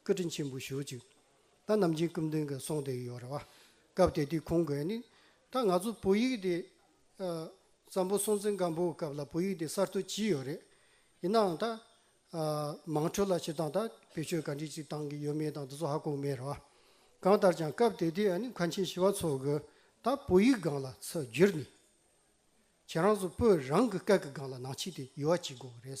སྐུ་དྲིན་ཆེན་པོ་ཞུ་ཅིག། ད་ནམ་རྒྱུན་སྐུ་མདུན་གྱི་གསུང་དེ་ཡོད་རེད་བ། སྐབས་དེ་དུས་ཁོང་གིས་ནི། ད་ང་ཚོ་བོད་ཡིག་དེ། བཙན་པོ་སྲོང་བཙན་སྒམ་པོའི་སྐབས་ལ་བོད་ཡིག་དེ་གསར་གཏོད་བྱས་ཡོད་རེད། ཡིན་ནའང་ད། མང་ཁྲོད་ལ་བྱེད་སྟངས་ད་བེད་སྤྱོད་ག་འདྲི་ཅིག་བཏང་གི་ཡོད་མེད་དང་དེ་ཚོ་ཧ་གོ་མེད་རེད་བ། གང་ལྟར་ཀྱང་སྐབས་དེ་དུས་ནི་མཁའ་ཆེན་ཞི་བ་འཚོ་གི་ད་བོད་ཡིག་སྒང་ལ་ཚུར་བསྒྱུར་ནས། ཁྱེད་རང་ཚོ་བོད་རང་གི་སྐད་ཀྱི་སྒང་ལ་ནང་ཆེད་དུ་ཡུ་བ་བྱེད་དགོས་རེད།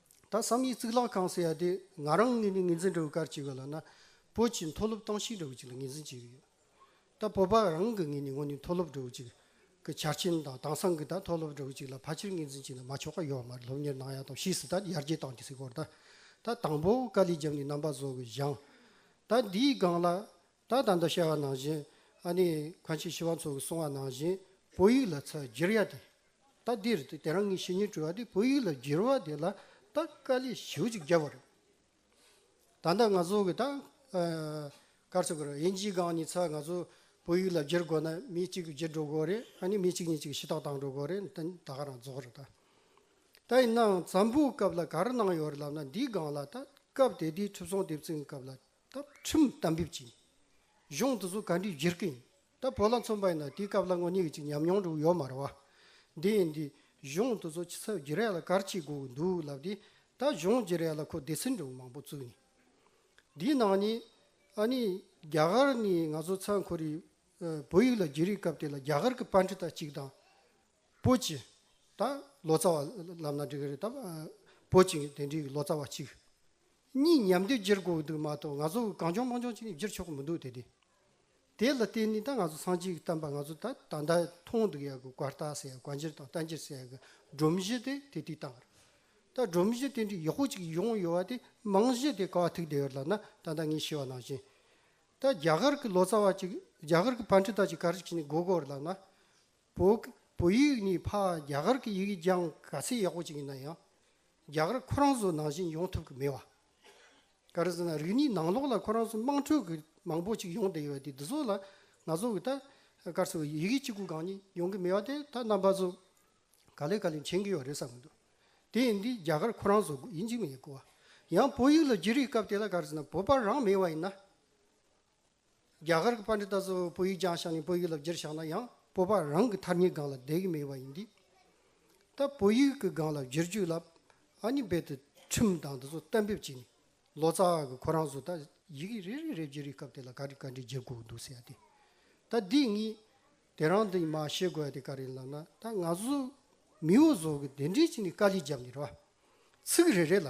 ད་བསམ་ཡས་གཙུག་ལག་ཁང་ཟེར་ཡ་དེ་ང་རང་ངོས་ནས་ངོས་འཛིན་འགྲོ་གི་གར་གྱི་གོ་ལ་ན་བོད་ཀྱི་མཐོ་སློབ་ཏང་ཞིག་འགྲོ་གི་ཅིག་ལ་ངོས་འཛིན་བྱེད་གི་ཡོད་ད་བོད་པ་རང་གི་ངོས་ནས་ངོ་ནས་མཐོ་སློབ་འགྲོ་གི་ཅིག་གི་ཆ་རྐྱེན་དང་དང་སང་གི་ད་མཐོ་སློབ་འགྲོ་གི་ཅིག་ལ་ཕ་ཕྱིར་ངོས་འཛིན་བྱེད་ན་མ་ཆོག་ག་ཡོད་མ་རེད་སློབ་གཉེར་གནང་ཡ་དང་ཕྱིས་སུ་ད་ཡར་རྒྱས་བཏང་གི་སི་སྐོར་ད་ད་དང་པོ་དཀའ་ལས་རྒྱབ་ནས་རྣམ་པ་བཟོ་གི་བཞང་ད་འདིའི་སྒང་ལ་ད་ད་འདི་བཤད་བ་ནང་བཞིན་ཨ་ནི་གང་ཕྱིས་ཤི་བ་ཚོ་གི་གསུང་བ་ནང་བཞིན་བོད་ཡིག་ལ་ཚ་བསྒྱིར་ཡ་དེ་ད་འདིར་དེ་དེ་རང་ངི་ཤི་ཉིན་བྲོས་བ་དེ་བོད་ཡིག་ལ་བསྒྱིར་བ་དེ་ལ་ད་དཀའ་ལས་ཞིའུ་ཅིག་རྒྱབ་བ་རེད་ད་ད་ང་ཚོ་གི་ད་ཀར་ཚོ་གིར་དབྱིན་ཇིའི་སྒང་ནི་ཚ་ང་ཚོ་བོད་ཡིག་ལ་བསྒྱིར་དགོས་ན་མི་གཅིག་གི་བསྒྱིར་འགྲོ་དགོས་རེད་ཨ་ནི་མི་གཅིག་གཉིས་གཅིག་གི་ཤི་ཐག་བཏང་འགྲོ་དགོས་རེད་ད་ད་ག་རང་རྫོགས་རེད་ད་ད་ཡིན་ནའང་ཛམ་བུའི་སྐབས་ལ་ག་རེ་གནང་ཡོད་རེད་ལབ་ན་འདིའི་སྒང་ལ་ད་སྐབས་དེ་དུས་ཁྲི་བཟང་དེབ་ཚིག་གི་སྐབས་ལ་ད་ཁྲིམས་གཏམ་འབེབས་ཀྱིས་གཞུང་དེ་ཚོ་ག་འདྲའི་བརྗེར་སྐད་ཡིན་ད་བོད་ལ་མཚོན་པ་ཡིན་ན་དེའི་སྐབས་ལ་ངོ་ཉེ་གི་ཅིག་ཉམས་མྱོང་འགྲོ་ཡོད་མ་རེད་བ། དེ་ཡིན་དུས་གཞུང་དེ་ཚོ་ཕྱི་ཚབ་བརྗེ་རེས་ལ་གར་བྱེད་དགོས་གི་འདུག་ལབ་དེ་ད་གཞུང་བརྗེ་རེས་ལ་ཁོ་སྡེ་སྲིད་འགྲོ་མང་པོ་བཙུགས་ནས་དེའི་ནང་ནས་ཨ་ནི་རྒྱ་གར་ནས་ང་ཚོ་ཚང་ཁོ་རེ་བོད་ཡིག་ལ་བརྗེ་རེས་སྐབས་དེ་ལ་རྒྱ་གར་གི་པཱ་འདྲི་ཏ་གཅིག་དང། པོ་གཅིག། ད་ལོ་ཙཱ་བ་ལབ་ན་འགྲིག་གི་རེད་དམ། པོ་གཅིག་དེ་འདྲའི་ལོ་ཙཱ་བ་གཅིག། གཉིས་ཉམས་དེབ་སྒྱེར་དགོས་འདུག་མ་གཏོགས་ང་ཚོ་གང་བྱུང་མང་བྱུང་ཅིག་ནས་སྒྱེར་ཆོག་གི་མི་འདུག་དེ་དེ། དེ་ལ་བརྟེན་ནས་ད་ང་ཚོ་སངས་རྒྱས་ཀྱི་བསྟན་པ་ང་ཚོ་ད་ད་ལྟ་མཐོང་འདུག་ཡག་གི་བཀའ་རྟགས་ཟེར་ཡག་བཀའ་འགྱེར་དང་རྟ་འགྱེར་ཟེར་ཡག་གི་སྒྲོམ་གཞི་དེ་དེ་དུས་བཏང་རེད། ད་སྒྲོམ་གཞི་དེ་འདྲའི་ཡག་པོ་གཅིག་ཡོང་ཡོད་བ་དེ་རྨང་གཞི་དེ་ག་བ་ཐུག་བསྡད་ཡོད་ལབ་ན་ད་ལྟ་ངས་ཤེས་བ་ནང་བཞིན། ད་རྒྱ་གར་གྱི་ལོ་ཙཱ་བ་གཅིག་རྒྱ་གར་གྱི་བན་ཁྲི་དག་གཅིག་ག་རེ་བྱས་ནས་སྒོ་སྒོ་རུ་ལབ་ན། བོད་བོད་ཡིག་ནི་ཕ་རྒྱ་གར་གྱི་ཡིག་སྦྱང་ག་ཚད་ཡག་པོ་ཅིག་ཡིན་ན་ཡང་རྒྱ་གར་ཁོ་རང་ཚོ་ནང་བཞིན་ཡོང་ཐུབ་གི་མེད་བ། ག་རེ་ཟེར་ན་རིག་གནས་ནང་ལོགས་ལ་ཁོ་རང་ཚོ་དམངས་ཁྲོད་ཀྱི་མང་པོ་ཅིག་ཡོང་བསྡད་ཡོད་དེ་འདི་ཚོ་ལ་ང་ཚོ་གི་ད་སྐར་ཚོ་ཡི་གེ་གཅིག་པུ་གང་ཉིད་ཡོང་གི་མེད་བ་དེ་ད་རྣམ་པ་ཚོ་ག་ལེ་ག་ལེ་མཁྱེན་གི་ཡོད་རེད་བསམ་གི་འདུག་དེ་ཡིན་དུས་རྒྱ་གར་ཁོ་རང་ཚོ་ཡིན་གྱི་མེད་གོ། ཡང་བོད་ཡིག་ལ་བསྒྱུར་བའི་སྐབས་དེ་ལ་ག་རེ་ཟེར་ན་བོད་པ་རང་མེད་བ་ཡིན་ན། རྒྱ་གར་གྱི་པ་འདི་ད་གཟོད་བོད་ཡིག་སྦྱངས་བཞག་ནས་བོད་ཡིག་ལ་བསྒྱུར་བཞག་ན་ཡང་བོད་པ་རང་གི་ཐར་ཉེའི་སྒང་ལ་བསྡད་ཀྱི་མེད་པ་ཡིན་འདི་ད་བོད་ཡིག་གི་སྒང་ལ་བསྒྱུར་རྒྱུ་ལབ་ཨ་ནི་རྦད་དེ་ཁྲིམས་དང་འདི་ཚོ་གཏན་འབེབས་བྱས་ནས་ལོ་ཙཱ་གི་ཁོ་རང་ཚོ་ད་ཡི་གེ་རེ་རེ་རེ་བརྗེ་རེས་སྐབས་དེ་ལ་ག་རེ་ག་འདྲའི་བརྗེ་དགོས་འདུག་ཟེར་ཡ་དེ་ད་འདི་གཉིས་དེ་རང་འདི་མ་ཤེས་དགོས་ཡ་དེ་ག་རེ་ལབ་ན་ད་ང་ཚོ་མིའོ་བཟོ་གི་དེ་འདྲའི་ཅི་ནས་དཀའ་ལས་བརྒྱབ་ནས་ར་བ་ཚིག་རེ་རེ་ལ།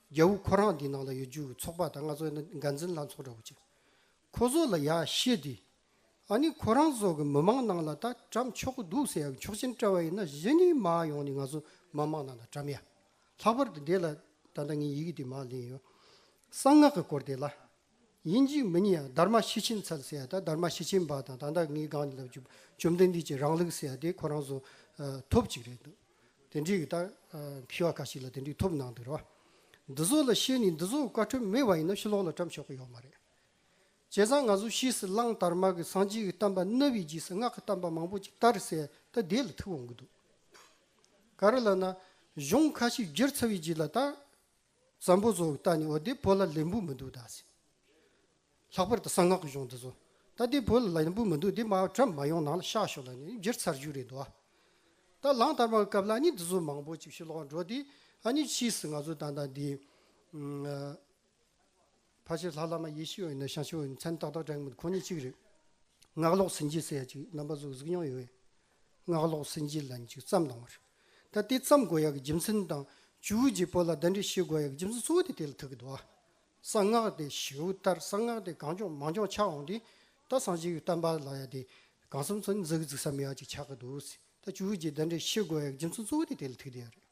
རྒྱལ་བུ་ཁོ་རང་འདི་ནང་ལ་ཡོད་རྒྱུ་ཚོགས་པ་དང་ང་ཚོ་ནི་འགན་འཛིན་ལྷ་ཚོགས་འདྲ་བོ་ཅིག་ཁོ་ཚོ་ལ་ཡག་ཤེས་དེ་ཨ་ནི་ཁོ་རང་ཚོ་གི་མི་མང་ནང་ལ་ད་བཀྲམ་ཆོག་གི་འདུག་ཟེར་ཡག་མཆོག་ཅན་བཀྲ་བ་ཡིན་ན་གཞི་ནས་མ་ཡོང་ནས་ང་ཚོ་མི་མང་ནང་ལ་བཀྲམ་ཡ་ལྷག་པར་དུ་འདི་ལ་ད་ལྟ་ངའི་ཡི་གེ་དེ་མ་ལེན་ཡོད་གསང་སྔགས་ཀྱི་སྐོར་དེ་ལ་དབྱིན་ཇིའི་མི་ཉིད་ཡང་དརྨ་ཤི་ཆིན་ཚལ་ཟེར་ཡ་དང་དརྨ་ཤི་ཆིན་འབའ་དང་ད་ལྟ་ངའི་སྒང་ནས་ལབ་རྒྱུ་བཅོམ་ལྡན་འདས་ཀྱི་རང་ལུགས་ཟེར་ཡ་དེ་ཁོ་རང་ཚོ་ཐོབ་ཅིག་རེད་འདུག་དེ་འདྲའི་གི་ད་མཁས་བ་ཁ་ཤིག་ལ་དེ་འདྲའི་ཐོབ་གནང་འདུག་རེད་བ། འདི་ཚོ་ལ་བཤད་ནས་འདི་ཚོ་བཀའ་ཁྲོལ་མེད་བ་ཡིན་ན་ཕྱི་ལོག་ལ་བཀྲམ་ཆོག་གི་ཡོག་མ་རེད། བྱས་ཙང་ང་ཚོ་ཤིས་སུ་གླང་དར་མ་གི་སངས་རྒྱས་ཀྱི་གཏམ་པ་རྣ་བའི་རྗེས་སུ་སྔགས་ཀྱི་གཏམ་པ་མང་པོ་ཅིག་དར་ཟེར་ད་དེ་ལ་ཐུག་འོང་གི་འདུག་ག་རེ་ལབ་ན་གཞུང་ཁ་ཤིག་བསྒྱུར་ཚར་བའི་རྗེས་ལ་ད། བཙན་པོ་བཟོ་ད་ནི་འོ་དེ་བོད་ལ་ལན་བུ་མི་འདུག་ད་ཟེར། ལྷག་པར་དུ་གསང་སྔགས་ཀྱི་གཞུང་འདི་ཚོ། ད་དེ་བོད་ལ་ལན་བུ་མི་འདུག་དེ་སྨྲ་བ་ཁྲོད་མ་ཡོང་ནང་ལ་བཤགས་ཤོག་ལ་ནི་བསྒྱུར་ཚར་རྒྱུ་རེད་འདུག་ཨ། ད་ལང་དར་མ་གི་སྐབས་ལ་ཨ་ནི་འདི་ཚོ་མང་པོ་ཅིག་ཕྱིར་ལོག་འགྲོ་དེ་ཨ་ནི་ཕྱིས་སུ་ང་ཚོ་ད་ལྟ་འདི། ཕ་ཤེས་ལྷ་བླ་མ་ཡེ་ཤེས་འོད་ནི་ཞང་ཆེན་འོད་ནི་མཚན་ཏག་ཏག་དྲན་མི་འདུག་ཁོང་ཉིད་གཅིག་རེད། ངག་ལོག་ཟིན་རྗེས་སེ་ཡ་ཅིག་རྣམ་པ་ཟུག་ཟུག་མྱོང་ཡོད། སྔགས་ལོག་སེམས་ཅན་ལ་འཇིགས་བརྩམས་གནང་བར། ད་ལྟའི་བརྩམས་དགོས་ཡག་གི་རྒྱུ་མཚན་དང། ཇུའུ་རྗེ་པོ་ལ་བདག་འདྲས་ཤེས་དགོས་ཡག་གི་རྒྱུ་མཚན་གཙོ་བོ་དེ་དེ་ལ་ཐུག་གི་འདུག་ཨ། གསང་སྔགས་དེ་བྱེའུ་ལྟར་གསང་སྔགས་དེ་གང་ལྗོངས་མང་ལྗོངས་ཆགས་འོང་དུས། ད་གསང་སྤྱི་བོའི་གཏམ་པ་ལ་ཡ་དེ་གང་བསམ་ཚུལ་འཛིན་གི་རྫུགས་ས་མི་ཡག་ཅིག་ཆགས་གི་འདུག་སྲིད། ད་ཇུའུ་རྗེ་བདག་འདྲས་ཤེས་དགོས་ཡག་གི་རྒྱུ་མཚན་གཙོ་བོ་དེ་དེ་ལ་ཐུག་གི་ཡག་རེད།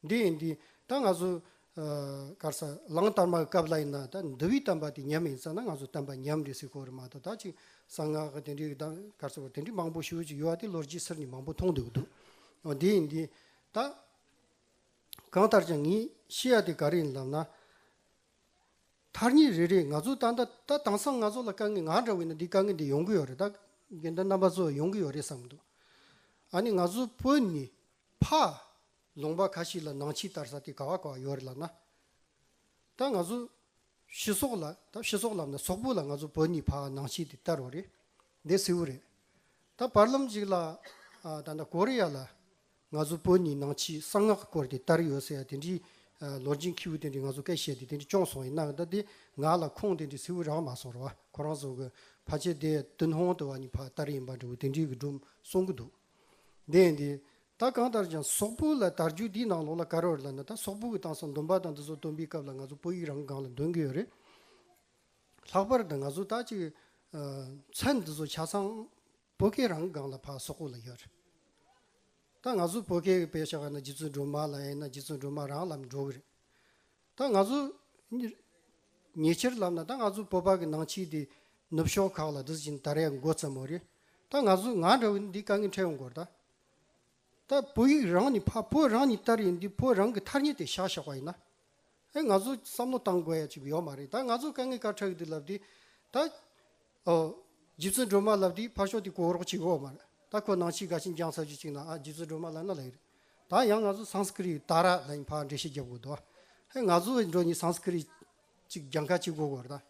འདི་ཡིན་འདི་ཡིན་ད་ང་ཚོ་གར་ས་གླང་དར་མ་གི་སྐབས་ལ་ཡིན་ན་ད་འདི་བས་བསྟན་པ་དེ་ཉམས་ཡིན་ས་ན་ང་ཚོ་བསྟན་པ་ཉམས་རེད་ཟེར་ཁོ་རེ་མ་གཏོགས་ད་ཅིག་གསང་སྔགས་གི་དེ་འདྲའི་གར་ས་བ་དེ་འདྲའི་མང་པོ་ཞུ་ཅིག་ཡོད་དེ་ལོ་རྗེས་སེར་ནས་མང་པོ་མཐོང་འདུག་འདུག་འོ་འདི་ཡིན་འདི་ཡིན་ད། གང་ལྟར་ཀྱང་ངས་ཤེས་ཡ་དེ་ག་རེ་ཡིན་ལབ་ན། མཐར་གཉིས་རེ་རེ་ང་ཚོ་ད་ལྟ་ད་དེང་སང་ང་ཚོ་ལ་དཀའ་ངལ་ང་འདྲ་བས་ན་འདི་དཀའ་ངལ་འདི་ཡོང་གི་ཡོད་རེད་ད་དགེ་འདུན་རྣམ་པ་ཚོ་ཡོང་གི་ཡོད་རེད་བསམ་འདུག་ཨ་ནི་ང་ཚོ་བོད་ནི་ཕ། ལུང་པ་ག་ཞིག་ལ་ནང་ཕྱི་ལྟར་ས་དེ་ག་བ་ག་བ་ཡོད་རེད་ལབ་ན། ད་ང་ཚོ་ཕྱི་སོག་ལ་ད་ཕྱི་སོག་ལབ་ན་སོག་པོ་ལ་ང་ཚོ་བོད་གཉིས་ཕ་ནང་ཕྱི་དེ་ལྟར་རོ་རེད་འདི་གསལ་བོ་རེད། ད་བར་ལམ་ཞིག་ལ་ད་ལྟ་ཀོ་རི་ཡ་ལ་ང་ཚོ་བོད་གཉིས་ནང་ཕྱི་གསང་སྔགས་སྐོར་དེ་ལྟར་ཡོད་ཟེར་ཡ་དེ་འདྲི་ལོ་རྗིན་ཁྱེའུ་དེ་འདྲི་ང་ཚོ་སྐད་བཤད་དེ་དེ་འདྲི་གཅོང་སོང་ཡིན་ན་ད་དེ་ང་ལ་ཁོང་དེ་འདྲི་གསལ་བོ་རག་མ་སོང་རོ་བ་ཁོ་རང་ཚོ་གི་ཕ་ཆེ་དེ་ཏུན་ཧོང་དུ་བ་གཉིས་ཕ་ལྟར་ཡིན་པ་འདྲི་བོ་དེ་འདྲི་གི་སྒྲུབ་གསུང་གི་འདུག། བདེན་ཏེ། ད་གང་ལྟར་ཀྱང་སོག་པོ་ལ་དར་རྒྱུགས་འདིའི་ནང་ལོགས་ལ་ག་རེ་བར་ལ་ན་ད་སོག་པོ་གི་སྟངས་སུ་འདོན་པ་དང་འདི་ཚོ་འདོན་པའི་སྐབས་ལ་ང་ཚོ་བོད་ཡིག་རང་གི་སྒང་ལ་འདོན་གི་ཡོད་རེད། ལྷག་པར་དུ་ང་ཚོ་ད་ཅིག་མཚན་འདི་ཚོ་ཆ་ཚང་བོད་སྐད་རང་གི་སྒང་ལ་ཕག་སོག་པོ་ལ་ཡོད་རེད། ད་ང་ཚོ་བོད་སྐད་པས་ཆགས་ན་རྗེ་བཙུན་སྒྲོལ་མ་ལ་ཡིན་ན་རྗེ་བཙུན་སྒྲོལ་མ་རང་ལ་མི་འགྲོ་གི་རེད། ད་ང་ཚོ་ཉེ་ཆར་ལབ་ན་ད་ང་ཚོ་བོད་པ་གི་ནང་ཆིག་དེ་ནུབ་ཕྱོགས་ཁག་ལ་དེ་བཞིན་ད་རེས་མགོ་བརྩམས་མོ་རེད་ད་ང་ཚོ་ང་འདྲ་བོ་འདི་དཀའ་ངལ་འཕྲད་ཡོང་དགོར་ད་ད་བོད་ཡིག་རང་ནི་ཕ་བོད་རང་ནི་ལྟར་ཡིན་དུས་བོད་རང་གི་ཐར་ཉེ་དེ་བཞག་བཞག་པ་ཡིན་ན་ཨེ་ང་ཚོ་བསམ་བློ་བཏང་དགོས་ཡ་ཅིག་ཡོག་མ་རེད་ད་ང་ཚོ་དཀའ་ངལ་དཀར་ཁྲ་གི་དེ་ལབ་དུས་ད་ཨོ། རྗེ་བཙུན་སྒྲོལ་མ་ལབ་དེའི་ཕར་ཕྱོགས་དེ་གོ་རོག་ཅིག་འོ། མ་རེད་ད་ཁོ་ནང་ཆེས་དགའ་ཞིང་འགྱངས་ཚར་རྒྱུ་གཅིག་ན་ཨ་རྗེ་བཙུན་སྒྲོལ་མ་ལ་ན་ལ་ཡོད་རེད། ད་ཡང་ང་ཚོ་སངས་སྐྲིད་ཡིས་ད་ར་ལ་ཡིན་ཕར་འགྲེལ་བཤད་རྒྱབ་དགོས་འདུག་ཨ། ཧེ་ང་ཚོ་འགྲོ་གཉིས་སངས་སྐྲིད་ཅིག་འགྱངས་ཁ་ཅིག་གོ་དགོས་རེད་ད།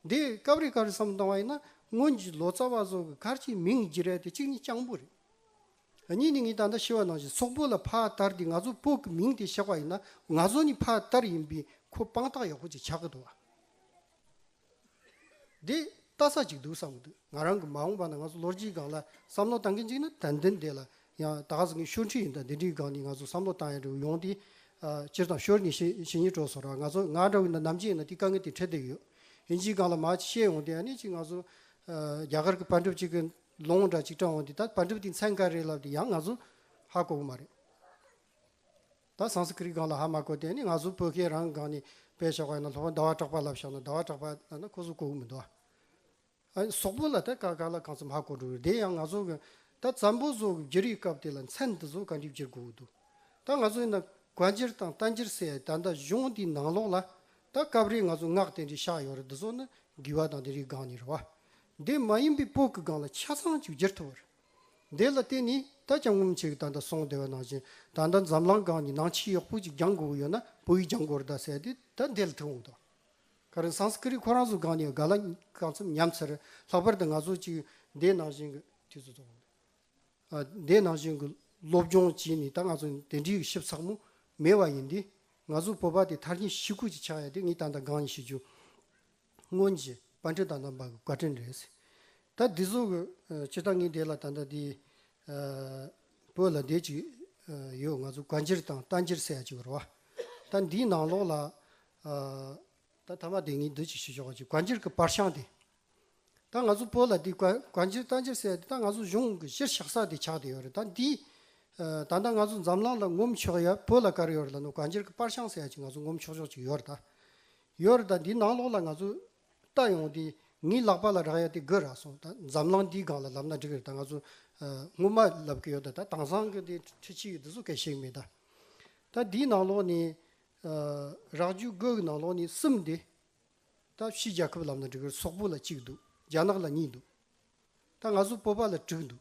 འདི་སྐབས་རེ་སྐབས་རེ་བསམ་བཏང་བ་ཡིན་ན་སྔོན་གྱི་ལོ་ཙཱ་བ་ཚོ་གི་སྐར་གྱི་མིང་བགྱི་རལ་དེ་གཅིག་ནི་སྤྱང་པོ་རེད། གཉིས་ནི་ངས་ད་ལྟ་ཤེས་བ་ནང་བཞིན་སོག་པོ་ལ་ཕ་ལྟར་དེ་ང་ཚོ་སྤོ་གི་མིང་དེ་བཞག་པ་ཡིན་ན་ང་ཚོ་ནི་ཕ་ལྟར་ཡིན་པས་ཁོ་དཔང་རྟགས་ཡག་པོ་ཅིག་ཆགས་གི་འདུག་ཨ། འདི་ལྟ་ས་ཅིག་འདུག་བསམ་འདུག་ང་རང་གི་མ་འོངས་པ་ན་ང་ཚོ་ལོ་རྒྱུས་སྒང་ལ་བསམ་བློ་གཏང་མཁན་ཅིག་ན་དན་དན་དེ་ལ་ཡང་ད་ག་ཟེ་ངས་ཤོར་འཁྲིས་ཡིན་ད་འདི་འདྲིའི་སྒང་ནས་ང་ཚོ་བསམ་བློ་གཏང་ཡ་འདྲི་བ་ཡོང་དེ། སྤྱིར་བཏང་ཤོར་ངེས་ཤེས་ཤེས་ཉེས་གྲོགས་སོ་ར་ང་ཚོ་ང་འདྲ་བའི་ན་ནམ་ཅིག་ཡིན་ན་དེ་དཀའ་ངལ་དེ་འཕྲད་བསྡད་ཡོད་ཡིན་ཅིག་སྒང་ལ་མ་ཅིག་ཤེས་ཡོང་དེ་ཡ་ནས་ཅིག་ང་ཚོ་རྒྱ་གར་གི་པར་འགྲིབ་ཅིག་གི་ལོང་འདྲ་ཅིག་དྲངས་འོང་དེ་ད་པར་འགྲིབ་དེ་མཚན་ག་རེད་ལབ་དེ་ཡང་ང་ཚོ་ཧ་གོ་གི་མ་རེད། ད་སངས་སི་ཀི་རིག་སྒང་ལ་ཧ་མ་གོ་དེ་ནི་ང་ཚོ་བོད་སྐད་རང་སྒང་ནས་སྤེལ་ཆོག་པ་ཡིན་ན་ལྷོ་བ་ཟླ་བ་གྲགས་པ་ལབ་ཤག་ན་ཟླ་བ་གྲགས་པ་ལབ་ན་ཁོ་ཚོ་གོ་གི་མི་འདུག་ཨ། སོག་པོ་ལ་ད་དཀའ་དཀའ་ལ་གང་ཚོད་མ་གོ་འགྲོ་རེད་དེ་ཡང་ང་ཚོ་གི་ད་བཙན་པོ་ཚོ་གི་བརྗེ་རེས་སྐབས་དེ་ལ་མཚན་འདི་ཚོ་ག་འགྲིབ་བརྗེར་གོ་གི་འདུག་ད་ང་ཚོ་ཡིན་ན་གོ་འགྱེར་དང་རྟ་འགྱེར་ཟེར་ཡ་ད་ད་གཞུང་དེའི་ནང་ལོགས་ལ་ད་སྐབས་རེ་ང་ཚོ་ངག་དེ་འདྲའི་ཤག་ཡོད་རེད་འདི་ཚོ་ནི་དགེ་བ་དང་དེ་རིག་སྒང་ནས་རེད་བ། དེ་མ་ཡིན་པའི་བོད་ཀི་སྒང་ལ་ཆ་ཚང་ཅིག་བརྗེར་ཐུབ་བ་རེད། དེ་ལ་བརྟེན་ནས་ད་ཅང་ངུམ་བྱེད་ཀྱི་ད་ལྟ་སོང་བདེ་བ་ནང་བཞིན་ད་ལྟ་འཛམ་གླང་སྒང་གི་ནང་ཕྱི་གཡོག་བུ་གཅིག་རྒྱང་གོ་གི་ཡོད་ན་བུ་ཡིས་རྒྱང་གོར་ད་ཟེར་དེ་ད་འདི་ལ་ཐུག་འོང་དོ། ག་རེ་སངས་ཀི་རི་ཁོ་རང་ཚོ་སྒང་ནས་ག་ལ་གང་འཚམས་ཉམས་ཚར་ལྷག་པར་དུ་ང་ཚོ་གཅིག་འདས་ནང་བཞིན་གྱི་དུས་ཚོད་ཚོ་འདས་ནང་བཞིན་གྱི་སློབ་སྦྱོང་བྱས་ནས་ད་ང་ཚོ་དེ་འདྲའི་ཞིབ་ཚགས་མོ་མེད་བ་ཡིན་དེ། ང་ཚོ་བོད་པ་དེ་མཐར་གྱིས་ཤི་ཁུག་ཅིག་ཆགས་ཡ་དེ་ངས་ད་ལྟ་སྒང་ནས་ཤི་རྒྱུ། སྔོན་གྱི་པར་འཕྲིན་དང་དང་པར་གྱི་བཀའ་དྲིན་རེད། ད་འདི་ཟུར་གྱི་སྤྱིར་བཏང་ངའི་འདས་ལ་ད་ལྟ་འདི་བོད་ལ་འདས་ཅིག་ཡོད་ང་ཚོ་བཀའ་འགྱེར་དང་རྟ་འགྱེར་སེ་ཡ་ཅིག་རུ་བ། ད་འདིའི་ནང་ལོགས་ལ་ད་ཐ་མ་དེ་ངའི་འདི་ཅིག་ཞིག་ཞོག་ཅིག་བཀའ་འགྱེར་གྱི་པར་ཤང་དེ། ད་ང་ཚོ་བོད་ལ་འདི་བཀའ་འགྱེར་རྟ་འགྱེར་སེ་ཡ་དེ་ད་ང་ཚོ་གཞུང་གི་གཞིར་བཞག་ས་དེ་ཆགས་དེ་ཡོད་རེད་ད་འདི་ད་ལྟ་ང་ཚོ་འཛམ་གླང་ལ་ངོམ་ཆོག་ཡ་བོད་ལ་དཀར་ཡོད་རེད་ལ་ནོ་བཀའ་འགྱེར་གྱི་པར་ཤང་སེ་ཡ་ཅིག་ང་ཚོ་ངོམ་ཆོག་ཆོག་ཅིག་ཡོད་རེད་ད། ཡོད་རེད་ད་འདི་ནང་ལོགས་ལ་ང་ཚོ་ལྟ་ཡོང་དེ་ངའི་ལག་པ་ལ་རག་ཡ་དེ་དགོས་རག་སོང་ད་འཛམ་གླང་འདིའི་སྒང་ལ་ལབ་ན་འགྲིག་རེད་ད་ང་ཚོ་སྔོན་མ་ལབ་གི་ཡོད་ད་དྭངས་སང་གི་དེ་འཕྲི་ཕྱི་ཡོད་དེ་ཚོ་གས་ཤེས་མེད་ད་ད་འདིའི་ནང་ལོགས་ནས་རག་ཇུས་དགོས་གི་ནང་ལོགས་ནས་གསུམ་དེ་ད་ཕྱི་རྒྱལ་ཁབ་ལབ་ན་འགྲིག་གི་རེད་སོག་པོ་ལ་གཅིག་འདུག་རྒྱ་ནག་ལ་གཉིས་འདུག་ད་ང་ཚོ་སྤོབས་པ་ལ་དྲུག་འདུག།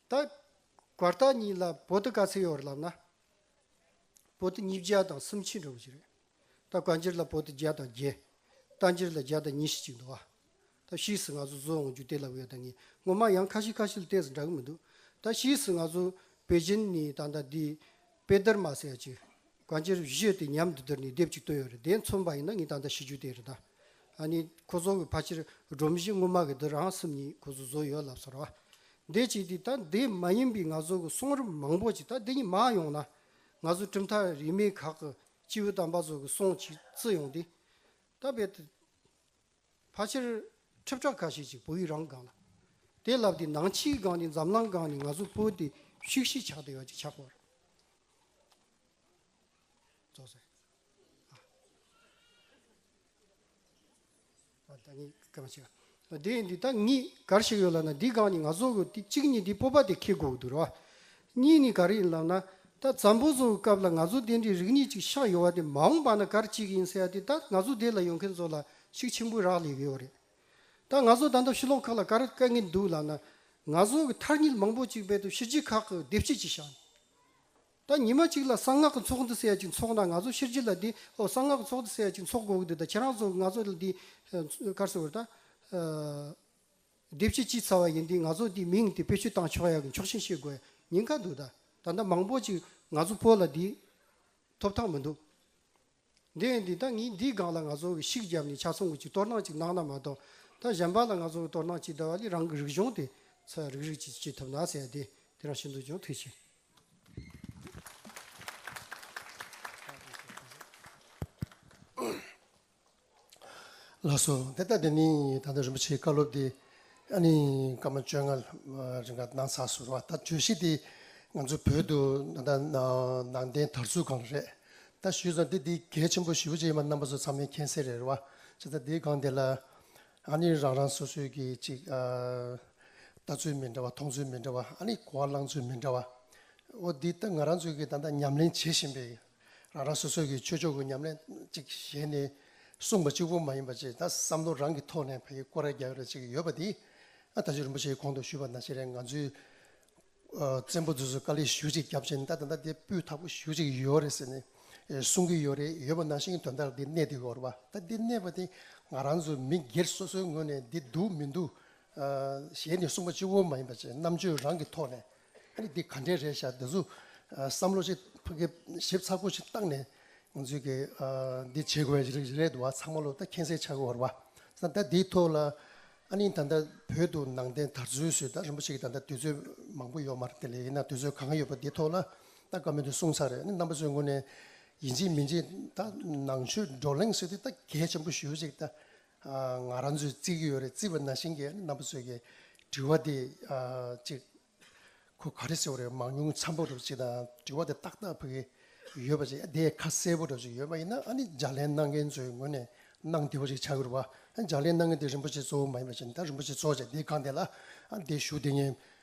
ད་སྒོར་དག་གཉིས་ལ་བོད་དུ་དཀའ་ཚེགས་ཡོད་རེད་ལབ་ན། བོད་དུ་ཉིས་བརྒྱ་དང་སུམ་ཅུ་འགྲོ་གི་རེད། ད་དཀའ་འགྱུར་ལ་བོད་དུ་བརྒྱ་དང་བརྒྱད། རྟ་འགྱུར་ལ་བརྒྱ་དང་ཉི་ཤུ་ཅིག་འདུག་ཨ། ད་ཕྱིས་སུ་ང་ཚོ་བཟོས་འོང་རྒྱུ་དེ་ལབ་ཡོད་ད་ངས་ངོ་མ་ཡང་ཁ་ཤི་ཁ་ཤི་ལ་བལྟས་སུ་འདྲ་གི་མི་འདུག་ད་ཕྱིས་སུ་ང་ཚོ་བོད་བཞིན་ནི་ད་ལྟ་འདི་དཔེ་དར་མ་ཟེར་ཡ་ཅིག་གང་ཅིར་བཞེས་ཏེ་ཉམས་འདི་དེར་ནི་སྡེབ་གཅིག་བཏོན་ཡོད་རེད་དེ་མཚོན་པ་ཡིན་ན་ངས་ད་ལྟ་ཤེས་རྒྱུ་དེ་རེད་ད། ནི་ཁོ་ཚོ་གི་ཕ་ཕྱིར་སྒྲོམ་གཞི་དངོས་མ་གི་འདི་རང་སེམས་ཉིད་ཁོ་ཚོ་བཟོ་ཡོད་ལབ་ས་ར་བ། འདེད་ཅིག་དེ་ད་འདི་མ་ཡིན་པའི་ང་ཚོ་གི་གསུང་རིམ་མང་པོ་ཅིག་ད་འདི་གཉིས་མ་ཡོང་ན། ང་ཚོ་གྲུབ་མཐའ་རིས་མེད་ཁག་གི་སྤྱི་བོའི་དམ་པ་ཚོ་གི་གསུང་ཅིག་བརྩི་ཡོང་དེ། ད་བེད། ཕ་ཕྱིར། ཁྲི་ཕྲག་ཁ་ཤས་ཅིག་བོད་ཡིག་རང་སྒང་ལ། དེ་ལབ་སྟེ་ནང་ཕྱིའི་སྒང་ནས་འཛམ་གླང་སྒང་ནས་ང་ཚོ་བོད་དེ་ཤུགས་ཤིག་ཆགས་བདེ་བ་ཅིག་ཆགས་པར། རྫོགས་སོང། ཨ། ད་ངས་སྐད་མ་ཕྱེ། དེ་ཡིན་དུས་ད་ངས་གར་ཞིག་ཡོད་ལབ་ན་འདི་སྒང་ནས་ང་ཚོ་བོད་དེ་གཅིག་ཉིད་དེ་སྤོབས་པ་དེ་ཁེལ་དགོས་ཀྱི་འདུག་ར་བ། གཉིས་ནི་ག་རེ་ཡིན་ལབ་ན། ད་ཛམ་བུ་བཟོ་བའི་སྐབས་ལ་ང་ཚོ་སྡེ་འདིར་རིགས་གཉིས་ཅིག་ཤག་ཡོད་བ་དེ་མ་འོངས་པ་ན་གར་གཅིག་ཡིན་ཟེར་ཡ་དེ་ད་ང་ཚོ་སྡེ་ལ་ཡོང་མཁན་ཚོ་ལ་ཤུགས་ཆེན་པོའི་རག་ལས་ཡོད་བ་རེད། ད་ང་ཚོ་ད་ལྟ་ཤུ་ལོག་ཁག་ལ་གར་བཀལ་གིན་འདུག་ལབ་ན། ང་ཚོ་གི་མཐར་ཉིལ་མང་པོ་ཅིག་བས་ཏུ་ཤི་རྗེས་ཁག་གི་སྡེ་བྱེད་ཅིག་ཤག་ནས། ད་ཉི་མ་ཅིག་ལ་གསང་སྔགས་ཀྱི་ཚོགས་འདི་ཟེར་ཡ་ཅིག་འཚོགས་ན་ང་ཚོ་ཤི་རྗེས་ལ་འདི་ཨོ་གསང་སྔགས་ཀྱི་ཚོགས་འདི་ཟེར་ཡ་ཅིག་འཚོགས་དགོས་གི་འདུག་ད་ཁྱེད་རང་ཚོ་ང་ཚོ་ལ་འདི་གར་ཟེར་བ་རེད་ད། སྡེབ་བྱེད་ཅི་ཚར་བ་ཡིན་དུས་ང་ཚོ་འདིའི་མིང་དེ་བེད་སྤྱོད་བཏང་ཆོག་ཡག་གི་མཆོག་ཤེས་ཤེས་དགོས་ཉེན་ཁ་འདུག་ད་ད་ལྟ་མང་པོ་ཅིག་ང་ཚོ་བོད་ལ་འདིའི་ཐོབ་ཐང་མི་འདུག་འདི་ཡིན་དུས་ད་ངས་འདིའི་སྒང་ལ་ང་ཚོ་གི་ཤིག་བརྒྱབ་ནས་ཆ་ཚང་གི་ཅིག་གཏོར་སྣང་ཅིག་གནང་ན་མ་གཏོགས་ད་གཞན་པ་ལ་ང་ཚོ་གི་གཏོར་སྣང་ཅིག་བརྡར་བ་ལས་རང་གི་རིག་གཞུང་དེ་ཚོ་ཡང་རིག་རིག་ཅིག་བྱེད་ཐུབ་ན་ཟེར་ཡ་དེ་དེ་རང་བཞིན་དུ་ཅུང་ཐུགས་ཆེ། ལགས་སོ། དེ་ལྟར་དེ་ནི་ད་ལྟ་རིན་པོ་ཆེའི་བཀའ་སློབ་དེ་སྐར་མ་བཅོ་ལྔ་རིང་ག་གནང་ཚར་སོང་བ་ད་བརྗོད་གཞི་དེ་ང་ཚོ་བོད་དུ་ད་ལྟ་ནང་བསྟན་དར་ཚུལ་གང་རེད་ད་ཞུས་སོང་དེ་དེ་གལ་ཆེན་པོ་བཞི་བོ་ཅན་ཡིན་པ་རྣམ་པ་ཚོ་ཚང་མས་མཁྱེན་གསལ་རེད་བ་ཅི་ད་དེའི་སྒང་དེ་ལ་ཨ་ནི་རང་རང་སོ་སོའི་གི་ཅིག་ལྟ་ཚུལ་མི་འདྲ་བ་མཐོང་ཚུལ་མི་འདྲ་བ་ཨ་ནི་གོ་བ་བླང་ཚུལ་མི་འདྲ་བ་འོ་དེ་ད་ང་རང་ཚོས་གི་ད་ད་ཉམས་ལེན་བྱེད་བཞིན་པའི་རང་རང་སོ་སོ་གྱི་ཆོས་ཕྱོགས་ཀྱི་ཉམས་ལེན་གཅིག་བཞེས་ནས་གསུངས་པ་གཅིག་པུ་མ་ཡིན་པ་ཅིག་ད་བསམ་བློ་རང་གི་ཐོག་ནས་བོད་ཀྱི་ཀོ་ར་རྒྱག་རེ་ཅིག་ཡོད་པ་འདི་ད་གཟོད་རིན་པོ་ཆེའི་གོང་དུ་ཞུས་པ་ན་ཤེས་རེ་ང་ཚོའི་བཙན་པོ་རྫུན་བཟོ་དཀའ་ལས་ཞུ་ཅིག་རྒྱབ་ཆེན་ད་ད་ད་དེ་སྤུས་དག་པོ་ཞུ་ཅིག་ཡོད་རེ་ཟེར་ནས་གསུང་གི་ཡོད་རེད་ཡོད་པ་ནང་བཞིན་དོན་དག་འདི་གནད་འདི་གོ་རེ་བ་ད་འདི་གནད་པ་འདི་ང་རང་ཚོ་མི་སྒེར་སོ་སོའི་ངོས་ནས་འདི་འདུག་མི་འདུག་བཞེས་ནས་གསུངས་པ་གཅིག་པུ་མ་ཡིན་པ་ཅིག་རྣམ་དཔྱོད་རང་གི་ཐོག་ནས་ཨ་འདི་ག་འདྲས་རེད་ཤག་འདི་ཚོ་བསམ་བློ་ཞིག་ཕ་གི་ཞིབ་ཚགས་པོ་ཞིག་བཏང་ནས་ང་ཚོས་ཀྱི་འདི་བྱེད་དགོས་རེད་འདུག་བ་ཚང་མ་ལོ་ད་མཁྱེན་གསལ་ཆགས་དགོས་བ་རེད་བ་ད་འདིའི་ཐོག་ལ་ཨ་ནི་ད་ལྟ་བོད་དུ་ནང་བསྟན་དར་ཚུལ་སུད་ད་རིན་པོ་ཆེ་གི་ད་ལྟ་དུས་ཚོད་མང་པོ་ཡོད་མ་རེད་དེ་ལས་ཡིན་ན་དུས་ཚོད་གང་ཡོད་པ་འདི་ཐོག་ལ་ད་བཀའ་མོལ་དུ་གསུང་ཚར་རེད་ནི་རྣམ་པ་ཚོའི་ངོས་ནས་ཡིན་གཅིག་མིན་གཅིག་ད་ནང་ཆོས་བགྲོ་གླེང་ཟེར་དུས་ད་གལ་ཆེན་པོ་ཞུ་གཅིག་ད་ང་རང་ཚོས་བརྩི་གི་ཡོད་རེད་བརྩི་བ་ན་ཤིང་གི་རྣམ་པ་ཚོས་ཀྱི་དྲི་བ་དེ་ཅིག་ཁོ་ག་རེ་ཟེར་བ་རེད་མང་ཉུང་ཚབ་པོ་རེ་ཅིག་དང་དྲི་བ་དེ་ཏག་ཏག་ཕུལ་གི་ཡོད་པ་ཅིག་དེ་ཁ་གསལ་པོ་རེ་ཅིག་ཡོད་པ་ཡིན་ན་ཨ་ནི་ལྗགས་ལན་གནང་མཁན་ཚོའི་ངོས་ནས་གནང་བདེ་བོ་ཅིག་བྱ་དགོས་རེད་པ་ལྗགས་ལན་གནང་མཁན་དེ་རིན་པོ་ཆེ་གཙོ་བོ་མ་ཡིན་པ་ཅིག་ད་རིན་པོ་ཆེ་གཙོ་བོ་ཅིག་དེ་གང་དེ་ལ་དེ་ཞུ་དེ་ཉན་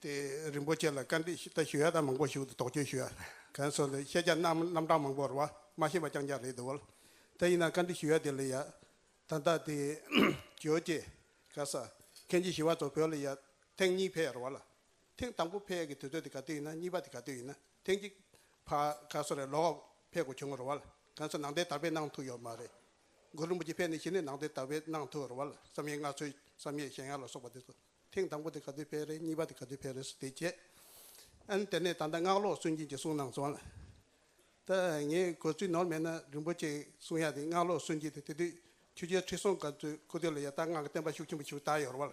དེ་རིན་པོ་ཆེ་ལ་བཀའ་འདྲི་ཞུ་ད་ཞུ་ཡ་ད་མང་པོ་ཞུ་དོགས་གཅོད་ཞུ་ཡ་གན་སོང་དེ་ཤེས་བྱ་རྣམ་རྣམ་གྲངས་མང་པོ་རོ་མ་ཤེས་པ་རྐྱང་རྐྱང་རེད་འདུག་ད་ཡིན་ན་བཀའ་འདྲི་ཞུ་ཡ་དེ་ལ་ཡ་ད་ད་དེ་གྱོད་ཀྱི་ག་ས་གན་ཅི་ཞུ་བ་ཚོ་བོད་ལ་ཡ་ཐེངས་གཉིས་ཕེ་རོ་བ་ལ་ཐེངས་དང་པོ་ཕེ་གི་དུས་ཚོད་དེ་ག་དུས་ཡིན་ན་གཉིས་པ་དེ་ག་དུས་ཡིན་ན་ཐེངས་གཅིག་ཕ་ག་ས་རེ་ལོག་ཕེ་གོ་བྱུང་རོ་བ་ལ་གན་སོང་ནང་དེ་དར་པེ་གནང་ཐུག་ཡོད་མ་རེད་མགོན་རིན་པོ་ཆེ་ཕལ་ནི་ཤི་ནས་ནང་དོན་དར་བས་ནང་དུ་རུང་བ་ལ་བསམ་ཡས་སྔགས་ཆོས་བསམ་ཡས་གཞན་ཡང་ལ་སོགས་པ་འདི་ཚོ་ཐེངས་དང་པོ་དེ་ག་དུས་ཕལ་རེད་གཉིས་པ་དེ་ག་དུས་ཕལ་རེད་སུ་དེས་བྱེད་ཨན་དེ་ནས་ད་ལྟ་སྔགས་ལོག་སུན་འབྱིན་གྱི་གསུང་གནང་སོང་ལ་ད་ངས་གོ་ཚུལ་ནོར་མེད་ན་རིན་པོ་ཆེ་གསུང་ཡག་དེ་སྔགས་ལོག་སུན་འབྱིན་དེ་དེ་དུས་ཆོས་རྒྱལ་ཁྲི་སྲོང་དཀར་ཚོས་སྐུ་སྟོད་ལ་ཡ་ད་སྔགས་ཀྱི་བསྟན་པ་ཤུགས་ཆེན་པོ་ཞུགས་ད་ཡོར་བ་ལ་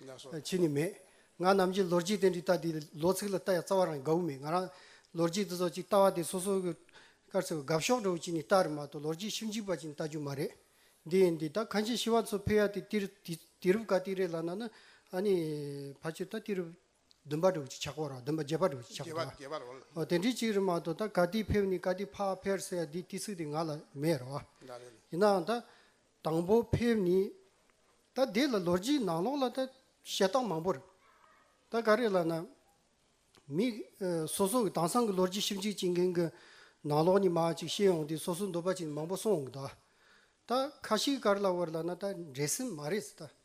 ཕྱི་ནི་མེད། ང་ནམ་གྱིས་ལོ་རྒྱུས་དེ་འདྲའི་རྟགས་འདིའི་ལོ་ཚིགས་ལ་ལྟ་ཡ་རྩ་བ་རང་གི་དགའ་བོ་མེད་ང་རང། ལོ་རྒྱུས་འདི་ཚོ་ཅིག་ལྟ་བ་དེ་སོ་སོ་གི་སྐར་ཚོས་དགའ་ཕྱོགས་འགྲོ་བ་ཅིག་ནས་ལྟ་རེ་མ་གཏོགས་ལོ་རྒྱུས་ཞིབ་འཇིག་པ་ཅིག་ནས་ལྟ་རྒྱུ་མ་རེད། འདི་ཡིན་འདི་ད་གང་ཅིའི་ཤི་བ་ཚོ་ཕེབས་ཡ་དེ་དེ་རུ་དེ་རུ་ག་དེ་རེད་ལབ་ན་ནི་ཨ་ནི་ཕ་ཆོས་ད་དེ་རུ་བདུན་པ་འགྲོ་བ་ཅིག་ཆགས་པར་བར་བདུན་པ་བརྒྱད་པ་འགྲོ་བ་ཅིག་ཆགས་པར་བར་དེ་འདྲའི་ཅིག་རེད་མ་གཏོགས་ད་ག་དེ་ཕེབས་ནས་ག་དེ་ཕ་ཕེར་ཟེར་ཡ་དེ་དེ་ཚིག་དེ་ང་ལ་མེད་རེད་བ། ཡིན་ནའང་ད་དང་པོ་ཕེབས་ནི། ད་དེ་ལ་ལོ་རྒྱུས་ནང་ལོགས་ལ་ད་བཤད་སྟངས་མང་པོར། ད་ག་རེ་ལ་ན། མི། སོ་སོ་གི་དང་སང་གི་ལོ་རྒྱུས་ཞིབ་འཇུག་བྱེད་མཁན་གི། ནང་ལོགས་ནས་མ་ཅིག་བཤད་ཡོང་དུས་སོ་སོ་འདོད་པ་ཅིག་མང་པོ་སོང་འོང་གི་འདུག་ཨ། ད་ཁ་ཤིག་ག་རེ་ལ་བོར་ལ་ན་ད་འདྲེ་སེམས་མ་རེད་ད།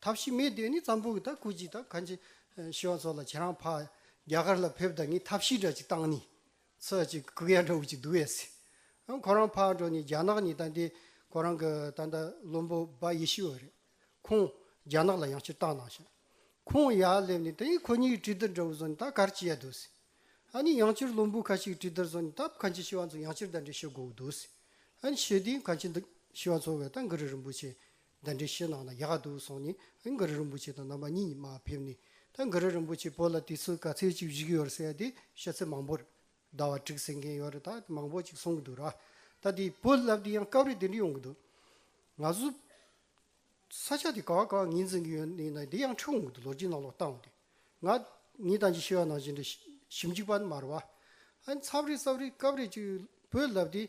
ཐབས་ཤེས་མེད་དུས་ནི་ཙམ་པོ་གི་དང་སྐུ་གཅིག་དང་གང་ཅི་ཤི་བ་ཚོ་ལ་ཁྱེད་རང་ཕ་རྒྱ་གར་ལ་ཕེབས་དང་ངས་ཐབས་ཤེས་འདྲ་ཅིག་བཏང་ནི་ཚོ་ཅིག་གི་གུ་ཡ་འདྲ་བོ་ཅིག་འདུག་ཨེ་སྲིད་ཨང་ཁོ་རང་ཕར་འགྲོ་ནི་རྒྱ་ནག་ནི་དང་དེ་ཁོ་རང་གི་ད་ལྟ་བློན་པོ་འབའ་ཡེ་ཤི་བ་རེད་ཁོང་རྒྱ་ནག་ལ་ཡང་སྤྱིར་བཏང་གནང་ཞིང་ཁོང་ཡར་སླེབས་ནི་དེ་ཁོ་གཉིས་གྲི་དར་འདྲ་བོ་བཟུང་ནི་ད་གར་ཅི་ཡ་འདུག་སྲིད་ཨ་ནི་ཡང་སྤྱིར་བློན་པོ་ཁ་ཅིག་གྲི་དར་བཟུང་ནི་ད་གང་ཅི་ཤི་བ་ཚོ་ཡང་སྤྱིར་ད་འདྲ་ཤི་དགོས་གི་འདུག་སྲིད་ཨ་ནི་ཤི་དུས་གང་ཅི་འདུག་ཤི་བ་ཚོ་བས་ད་འགུ་རི་རིན་པོ་ཆེ་འདི་འདྲའི་ཤེས་ནང་ན་ཡག་འདུག་གསུངས་ནས་མགར་རིན་པོ་ཆེ་དང་རྣམ་པ་གཉིས་ཉི་མ་ཕེབས་ནས་ད་མགར་རིན་པོ་ཆེ་བོད་ལ་དུས་ཚོད་ག་ཚོད་ཅིག་བཞུགས་ཡོད་ཟེར་ཏེ་ཤོད་ཚད་མང་པོ་རེད་ཟླ་བ་དྲུག་ཟེར་མཁན་ཡོད་རེད་ད་མང་པོ་ཅིག་གསུངས་གི་འདུག་ར་ད་དེ་བོད་བསླབ་དུས་ཡང་སྐབས་རེ་དེ་འདྲ་ཡོང་གི་འདུག་ང་ཚོ་ས་ཆ་དེ་ག་བ་ག་བ་ངེས་འཛིན་གི་ཡོད་ནི་ན་དེ་ཡང་འཁྲུག་འོང་གི་འདུག་ལོ་རྒྱུས་ནང་ལོག་ལྟ་འོང་དུས་ང་ངའི་དང་ཅིག་ཤེས་པ་ནང་ཞེ་འདྲ་ཞིབ་འཇུག་པ་མར་བ་ཨ་འཚམས་རེ་འཚམས་རེ་སྐབས་རེ་ཅིག་བོད་བསླབ་དུས་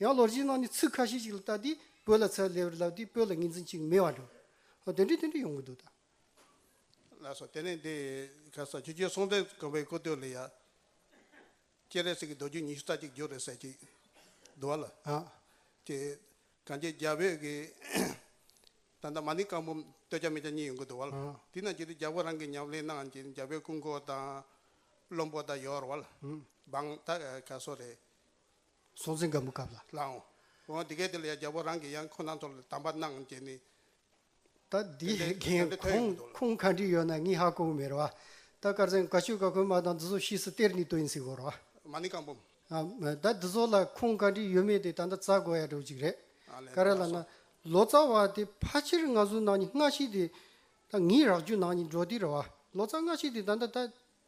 ཡང་ལོ་རྗེས་ནང་ནས་ཚིག་ཁ་ཤས་ཤིག་ལ་བལྟ་དུས་བོད་ལ་ཚད་ལས་པར་ལབ་དུས་བོད་ལ་ངེས་འཛིན་ཅིག་མེད་པ་འགྲོ། དེ་འདྲའི་དེ་འདྲའི་ཡོང་གི་འདུག་ད། ལ་སོགས་དེ་ནས་འདི་ག་སོགས་ཆུ་རྒྱུན་སྲོང་བཙན་སྒམ་པོའི་སྐུ་སྟོད་ལ་ཡང། སྤྱན་རས་གཟིགས་ཀྱི་རྡོ་རྗེ་ཉི་ཤུ་རྩ་གཅིག་བརྗོད་རེ་ཟེར་ཅིག་འདུག་ལ། དེ་གངས་ཅན་རྒྱ་བོད་ཀྱི། ད་ལྟ་མ་ཎི་རྐང་འབུམ་སྟོད་ཆ་མེད་ཆ་གཉིས་ཡོང་གི་འདུག་ལ། དེ་རྣམས་ཀྱི་དུས་རྒྱ་བོད་རང་གིས་ཉམས་ལེན་གནང་ཅིང་རྒྱ་བོད་སྐུ་འཁོར་དང། བློན་པོ་དང་ཡོར་བ། འབངས། ད་ག་སོགས་རེད། སྲོག་འཛིན་སྒམ་པོ་བཀབ་ལ་བླང། འོ་དེ་གས་དེ་ལ་ཡང་རྒྱལ་པོ་རང་གི་ཡང་ཁོ་ནང་ཚོར་དམ་པ་གནང་རྒྱལ་ནི། ད་དེ་དེ་འདྲའི་དོན་ཡོད་མི་འདུག་ལ། ཁུང་གང་དྲིས་ཡོད་ན་ངི་ཧ་ཀོ་བོ་མེར་བ། ད་དཀར་ཟན་ག་ཆོད་ག་ཁོལ་མ་དང་འདི་ཟོ་ཤིས་སུ་སྟེར་ནི་དོ་ཡིན་སི་གོ་རོ། མ་ནི་གང་བུམ། ད་འདི་ཟོ་ལ་ཁུང་གང་དྲིས་ཡོད་མེད་དེ་ད་ནྡ་ཙ་གོ་ཡ་འདྲོ་ཅིག་རེད། ཀ་ར་ལ་ན། ལོ་ཙ་བ་དེ་ཕ་ཆེར་ང་ཟུ་ནང་ནི་སྔ་ཤིས་དེ། ད་ངི་རག་ཇུ་ནང་ནི་འདྲོ་དི་ར་བ། ལོ་ཙ་སྔ་ཤིས་དེ་ད་ནྡ་ད།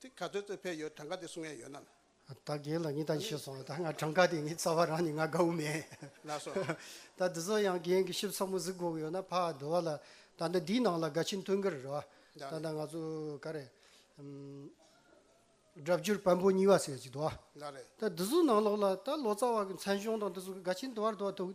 དེ་ག་ཚོད་ཚོད་ཕེབས་ཡོད་གྲངས་ཀ་དེ་གསུང་ཡས་ཡོད་ནམ། ད་རྒན་ལགས་ངས་ད་ཤེས་སོང་ད་ང་གྲངས་ཀ་དེ་ངའི་རྩ་བ་རང་ནས་ང་དགའ་བོ་མེད། ལགས་སོ། ད་འདི་ཚོ་ཡང་རྒན་གྱི་ཞིབ་ཚགས་མོ་གཟིགས་དགོས་ཡོད་ན་ཕ་ཟློ་བ་ལ་ད་ལྟ་འདིའི་ནང་ལ་དགའ་ཆེན་སྟོན་གི་རེད་རེད་བ། ད་ལྟ་ང་ཚོ་ག་རེ། སྒྲ་བསྒྱུར་བམ་པོ་གཉིས་བ་ཟེར་ཡས་ཅིག་འདུག་བ། ལགས་རེད། ད་འདི་ཚོ་ནང་ལོགས་ལ་ད་ལོ་ཙཱ་བ་གི་མཚན་གཞུང་དང་འདི་ཚོ་གི་དགའ་ཆེན་དུ་བར་དུ་བ་འདུག།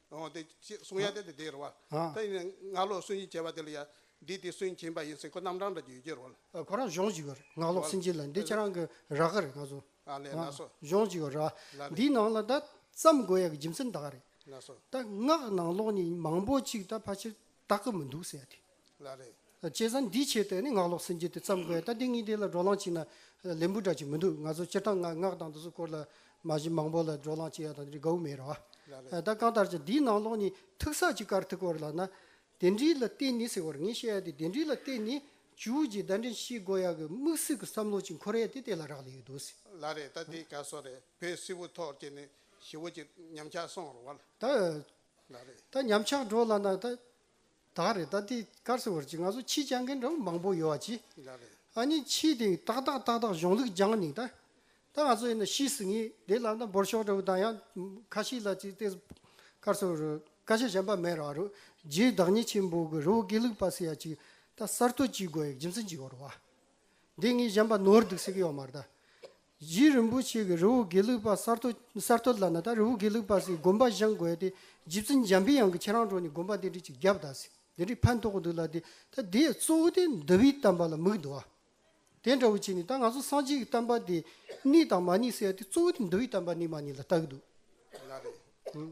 འོང་སྟེ། ཅེས་གསུངས་ཡང་དེ་དེའི་རུ་བ། དེ་ཡིན་ན་སྔགས་ལོག་སུན་འབྱིན་བྱེད་པ་དེ་ལ་ཡང། འདི་དེ་སུན་འབྱིན་པ་ཡིན་སྲིད་ཁོ་རྣམ་གྲངས་འདྲ་རྒྱུ་ཡི་རོ། ཁོ་རང་གཞོང་གཅིག་གི་རེད་སྔགས་ལོག་སུན་འབྱིན་ལ་འདི་ཁྱེད་རང་གི་རག་གི་རེད་ང་སོ། ལ་ལས་ན་སོ། གཞོང་གཅིག་གི་རག། འདིའི་ནང་ལ་ད་བརྩམ་དགོས་ཡག་གི་རྒྱུ་མཚན་ད་ག་རེད། ན་སོ། ད་སྔགས་ནང་ལོག་ནི་མང་པོ་གཅིག་ད་ཕ་ཕྱིར་བཏགས་གི་མི་འདུག་ཟེར་ཡ་དེ། ལ་རེད། བྱས་ཙང་འདིའི་ཆེད་དུ་ནི་ངག་ལོག་སེམས་ཅན་དེ་བརྩམས་དགོས་ད་འདི་གཉིས་དེ་ལ་འགྲོ་ལང་བྱེད་ན་ལེན་པོ་འདྲ་ཅིག་མི་འདུག་ང་ཚོ་སྤྱིར་བཏང་ངག་དང་འདི་ཚོ་སྐོར་ལ་མ་གཞི་མང་པོ་ལ་འགྲོ་ལང་བྱེད་ཡ་དང་འདི་འདྲའི་དགའ་བོ་མེད་ར་བ། ད་གང་ལྟར་ཀྱང་འདིའི་ནང་ལོག་ནི་ཐུགས་ཟག་གཅིག་གར་ཐུག་སྐོར་ལ་ན། དེ་འདྲིའི་ལ་བརྟེན་ནི་ཟེར་བར་ངས་བཤད་ཡ་དེ་དེ་འདྲིའི་ལ་བརྟེན་ནི་ཇུའུ་རྗི་བརྡ་འཕྲིན་ཤིས་སྒོ་ཡག་གི་དམིགས་བསལ་གྱི་བསམ་བློ་ཅིག་འཁོར་ཡ་དེ་དེ་ལ་རག་ལས་ཡོད་འདུག། ལ་རེད་ད་འདི་ག་སོ་རེད་བོད་སིལ་བུ་ཐོག་གི་ནི་ཞི་བོ་ཅིག་ཉམས་ཆག་སོང་ར་བ། ལ་རེད། ད་ཉམས་ཆག་འགྲོ་ལ་ན་ད། ད་རེས་རྟ་དེ་དཀར་སེར་བར་གྱི་ང་ཚོ་ཕྱི་བཅར་མཁན་འདྲ་མང་པོ་ཡོད་ཀྱི། ཨ་ནི་ཕྱི་དེ་ཏག་ཏག་ཏག་ཏག་གཞུང་ལུགས་སྦྱང་ནིང་ད། ད་ང་ཚོ་ཡིན་ན་ཤི་སི་ངེས་དེ་ལ་ད་འབོར་ཤོག་འདྲ་བོ་ད་ཡང་ཁ་ཤི་ལ་ཅིག་ཏེ། དཀར་སེར་བར་བཀའ་ཤག་གཞན་པ་མེད་ར་རུ་རྗེའི་བདག་ཉིད་ཆེན་པོ་གི་རི་བོ་དགེ་ལུགས་པ་སི་ཡ་ཅིག་ད་གསར་གཏོད་ཅིག་དགོས་ཡག་རྒྱུ་མཚན་ཅིག་ཡོད་རུ་བ། འདི་ངས་གཞན་པ་ནོར་འདུག་ཟེར་གི་ཡོད་མ་རེད་ད། རྗེ་རིན་པོ་ཆེ་གི་རི་བོ་དགེ་ལུགས་པ་ས་རྡོ་ས་རྡོ་ལ་ན་ད་རི་བོ་དགེ་ལུགས་པ་སི་དགོན་པ་བཞེངས་དགོས་ཏེ་རྗེ་བཙུན་འཇམ་པའི་དབྱངས་ཀྱི་ཁྱེད་རང་གྲོང་ནས་དགོན་པ་འདི་འདྲི་ཅིག་རྒྱབ་ད་སི་འདི་འདྲི་ཕན་ཐོག་གི་འདུག་ལ་དེ་ད་དེ་ཡི་གཙོ་བོ་དེ་འདི་བའི་གཏམ་པ་ལ་མིག་འདུ་བ་དེ་འདྲ་བོ་བྱས་ནས་ད་ང་ཚོ་སངས་རྒྱས་ཀྱི་གཏམ་པ་དེ་གནས་དང་མ་གནས་ཟེར་ཡ་དེ་གཙོ་བོ་དེ་འདི་བའི་གཏམ་པ་གནས་མ་གནས་ལ་ལྟ་གི་འདུག།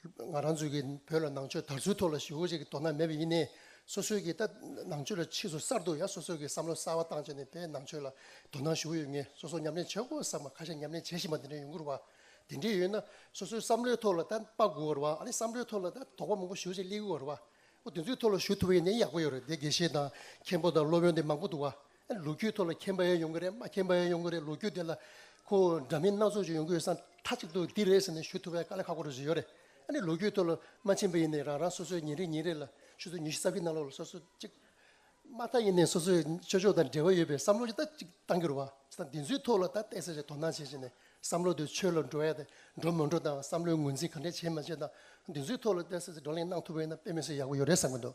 ང་རང་ཚོས་ཀྱིས་བོད་ལ་ནང་ཆོས་དར་ཚུལ་ཐོག་ལ་ཞི་བོ་ཅིག་གི་དོ་སྣང་མེད་པ་ཡིན་ནས། སོ་སོའི་ཀྱི་ད་ནང་ཆོས་ལ་ཕྱིས་སུ་གསར་དུ་ཡང་སོ་སོའི་ཀྱི་བསམ་བློ་གསར་བ་བཏང་བྱས་ནས་བོད་ནང་ཆོས་ལ་དོ་སྣང་ཞུ་གི་ཡོད་ངེས་སོ་སོ་ཉམས་ལེན་བྱེད་དགོས་བསམ་པ་ཁ་ཤས་ཉམས་ལེན་བྱེད་བཞིན་པ་འདི་འདྲ་ཡོང་གི་རུ་བ། དེ་འདྲས་ཡོད་ན་སོ་སོའི་བསམ་བློའི་ཐོག་ལ་ད་དཔའ་གོ་བ་རུ་བ་ཨ་ནི་བསམ་བློའི་ཐོག་ལ་ད་དོགས་པ་མང་པོ་ཞུ་བྱེད་སླེ་གི་བ་རུ་བ། དེ་ཚོའི་ཐོག་ལ་ཞུ་ཐུབ་པ་ཡིན་ན་ཡག་པོ་ཡོད་རེད་དེ་དགེ་བཤེས་དང་མཁན་པོ་དང་སློབ་དཔོན་དེ་མང་པོ་འདུག་བ། ལོ་རྒྱུས་ཐོག་ལ་མཁྱེན་པ་ཡང་ཡོང་གི་རེད་མ་མཁྱེན་པ་ཡང་ཡོང་གི་རེད་ལོ་རྒྱུས་དེ་ལ་ཁོ་འདྲ་མིན་སྣ་ཚོགས་ཅིག་ཡོང་གི་ཡོད་ས་མཐའ་གཅིག་ཏུ་འདི་རེད་ཟེར་ནས་ཞུ་ཐུབ་པའི་དཀའ་ལས་ཁག་པོ་རེ་ཟུང་ཡོད་རེད་ཨ་ནི་ལོ་རྒྱུས་ཐོག་ལ་མ་མཁྱེན་པ་ཡིན་ནའི་རང་རང་སོ་སོའི་ཉིན་རེ་ཉིན་རེ་ལ་ཆུ་ཚོད་ཉི་ཤུ་རྩ་བཞི་གནང་ལོག་ལ་སོ་སོ་གཅིག་མ་མཐའ་ཡིན་ནའི་སོ་སོའི་ཆོས་ཕྱོགས་དང་འབྲེལ་བ་ཡོད་པའི་བསམ་བློ་ཅིག་ད་ཅིག་གཏང་རྒྱུར་བ་ཅི་ད་འདི་ཚོའི་ཐོག་ལ་ད་བལྟས་ཚེ་རེ་དོ་སྣང་བྱེད་བྱེད་ནས་བསམ་བློ་དེ་ཆོས་ལ་འགྲོ་ཡ་དེ་འགྲོ་མི་འགྲོ་དང་བསམ་བློའི་ངོས་འཛིན་ག་འདྲས་བྱེད་མ་བྱེད་དང་འདི་ཚོའི་ཐོག་ལ་བལྟས་ཚེ་བགྲོ་གླེང་གནང་ཐུབ་པ་ཡིན་ན་དཔེ་མི་སོན་ཡག་པོ་ཡོད་རེད་བསམ་གྱི་འདུག་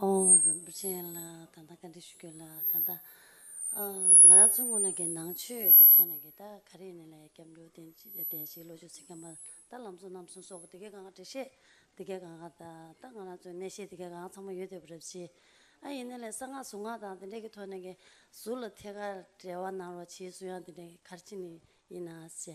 ཨོ་རིན་པོ་ཆེ་ལ་ད་ལྟ་བཀའ་འདྲི་ཞུ་རྒྱུ་ལ་ད་ལྟ་ང་རང་ཚོའི་སྔོན་ན་གི་ནང་ཆོས་ཀྱི་ཐོག་ནས་གི་ད་ག་རེ་ནས་ལས་སྐྱབས་འགྲོ་བསྟེན་བསྟེན་ཞིག་ལོ་ཆུ་ཚིགས་ཁམས་པ་ད་ལམ་གསུང་རྣམ་གསུང་སོགས་དེ་གའི་གང་ག་འབྲེལ་བཤད་དེ་གའི་གང་ག་ད་ད་ང་རང་ཚོའི་གནས་བཤད་དེ་གའི་གང་ག་ཚང་མ་ཡོད་དེ་པོ་རེད་བྱས་ཨ་ཡིན་ན་ལས་གསང་སྔགས་གཟུངས་སྔགས་དང་དེ་འདྲའི་གི་ཐོག་ནས་གི་གཟུགས་ལ་ཐད་ཀར་འབྲེལ་བ་གནང་རོགས་བྱས་སུ་ཡང་དེ་འདྲའི་གི་གར་ཆེན་ནི་ཡིན་ན་བྱས།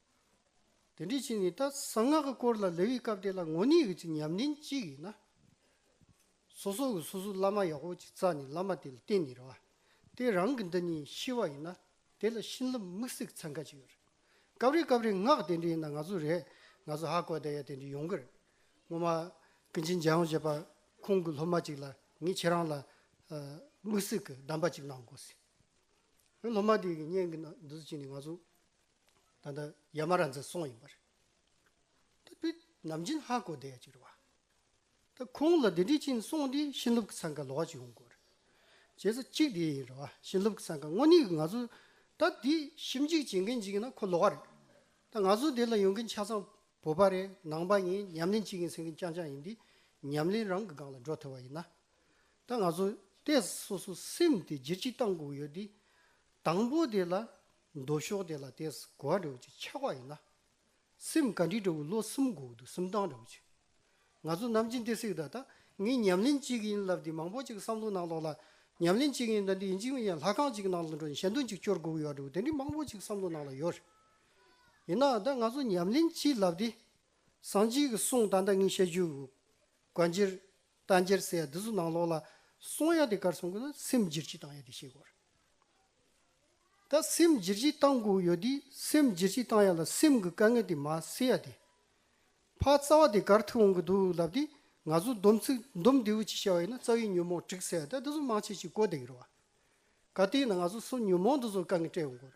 དེ་འདྲའི་ཕྱིར་ནི་ད་གསང་སྔགས་ཀྱི་སྐོར་ལ་ལེ་ཝི་སྐབས་དེ་ལ་ངོ་ནི་གྱི་ཚིག་ཉམས་ལྡན་གཅིག་ཡིན་ན། སོ་སོ་གི་སོ་སོའི་བླ་མ་ཡག་པོ་ཅིག་བཙལ་ནས་བླ་མ་དེ་ལ་བསྟེན་ནི་རེད། དེ་རང་གི་འདི་ཉིད་ཤི་བ་ཡིན་ན་དེ་ལ་བྱིན་རླབས་དམིགས་བསལ་གྱི་ཚན་ཁ་ཅིག་ཡོད་རེད། སྐབས་རེ་སྐབས་རེ་སྔགས་དེ་འདྲ་ཡིན་ན་ང་ཚོ་རེད་ང་ཚོ་ཧ་གོ་ད་ཡ་དེ་འདྲ་ཡོང་གི་རེད། སྔོན་མ་ཀུན་མཁྱེན་རྒྱལ་ཡོངས་བྱེད་པ་ཁོང་གི་སློབ་མ་ཅིག་ལ་ངས་ཁྱེད་རང་ལ་དམིགས་བསལ་གྱི་གདམས་པ་ཅིག་གནང་དགོས་ཟེར། སློབ་མ་དེ་གཉེན་གྱི་ནང་འདུག་ཅིག་ནས་ང་ཚོ། ད་ལྟ་ཡ་མ་ར་འཛི་སོང་ཡིན་པ་རེད། ད་བུ་ནམ་རྒྱུན་ཧ་གོ་བསྡད་ཡ་གཅིག་རེད་བ། ད་ཁོང་ལ་དེ་འདྲའི་ཕྱིན་སོང་དེ་ཤིན་ལུབ་ཀྱི་ཚང་ག་ལོག་གཅིག་ཡོང་དགོས་རེད། རྗེས་སུ་གཅིག་དེ་ཡིན་རེད་བ་ཤིན་ལུབ་ཀྱི་ཚང་ག་དངོས་གནས་ཀྱི་ང་ཚོ་ད་དེ་ཞིབ་འཇུག་བྱེད་མཁན་གཅིག་ཡིན་ན་ཁོ་ལོག་རེད། ད་ང་ཚོ་དེ་ལ་ཡོང་མཁན་ཆ་ཚང་བོད་པ་རེད་ནང་པ་ཡིན་ཉམས་ལེན་བྱེད་མཁན་ཟེར་མཁན་རྐྱང་རྐྱང་ཡིན་དེ་ཉམས་ལེན་རང་གི་སྒང་ལ་འགྲོ་ཐུབ་བ་ཡིན་ན། ད་ང་ཚོ་ལྟས་སོ་སོ་སེམས་དེ་སྒྱིར་གཅིག་བཏང་དགོས་ཀྱི་ཡོད་དེ། དང་པོ་དེ་ལ། མདོ་ཕྱོགས་དེ་ལ་ལྟས་སུ་གོ་བ་འདྲ་བོ་ཅིག་ཆགས་པ་ཡིན་ན། སེམས་གངས་རི་འདྲ་བོ་ལོ་གསུམ་འགོག་འདུག་སུམ་རྟགས་འདྲ་བོ་ཅིག། ང་ཚོ་ནམ་ཅི་འདི་སྲིད་ད་ལྟ་ངས་ཉམས་ལེན་གཅིག་གི་ཡིན་ལབ་དེ་མང་པོ་ཅིག་བསམ་བློ་ནང་ལོག་ལ། ཉམས་ལེན་གཅིག་གི་ཡིན་ད་འདི་ཡིན་གཅིག་མིན་ཡང་ལྷ་ཁང་གཅིག་ནང་ལ་འགྲོ་ནས་ཞལ་འདོན་ཅིག་སྐྱོར་དགོས་ཀྱི་ཡོད་འདྲ་བོ་དེ་འདྲའི་མང་པོ་ཅིག་བསམ་བློ་ནང་ལ་ཡོད་རེད། ཡིན་ནའང་ད་ང་ཚོ་ཉམས་ལེན་གཅིག་ལབ་དེ། སངས་རྒྱས་ཀྱི་གསུང་ད་ལྟ་ངས་བཤད་རྒྱུ་དགོས། རྗེར་ལྟ་འཇལ་ཟེར་ཡ་འདི་ཚོ་ནང་ལོགས་ལ་སོང་ཡ་དེ་གར་སོང་དགོས་ན་སེམས་བསྒྱིར་བྱིས་བཏང་ཡ་དེ་ཤེས་དགོས་རེད། ད་སེམས་བསྒྱིར་བྱིས་བཏང་དགོས་ཡོད་དུས་སེམས་བསྒྱིར་བྱིས་བཏང་ཡ་ལ་སེམས་ཀྱི་དཀའ་ངལ་དེ་མ་སེལ་ཡ་དེ། ཕ་རྩ་བ་དེ་གར་ཐུག་འོང་གི་འདུག་ལབ་དུས་ང་ཚོ་འདོམས་ཚིག་འདོམས་འདི་འུ་ཅིག་བྱ་བ་ཡིན་ན་རྩ་བའི་ཉོན་མོངས་དྲུག་ཟེར་ཡ་དེ་འདི་ཚོ་མང་ཆེ་ཆེ་གོ་བདེ་གི་རེད་བ། ག་དུས་ན་ང་ཚོ་སོ་ཉོན་མོངས་འདི་ཚོ་དཀའ་ངལ་སྤྲད་འོང་དགོས་རེད།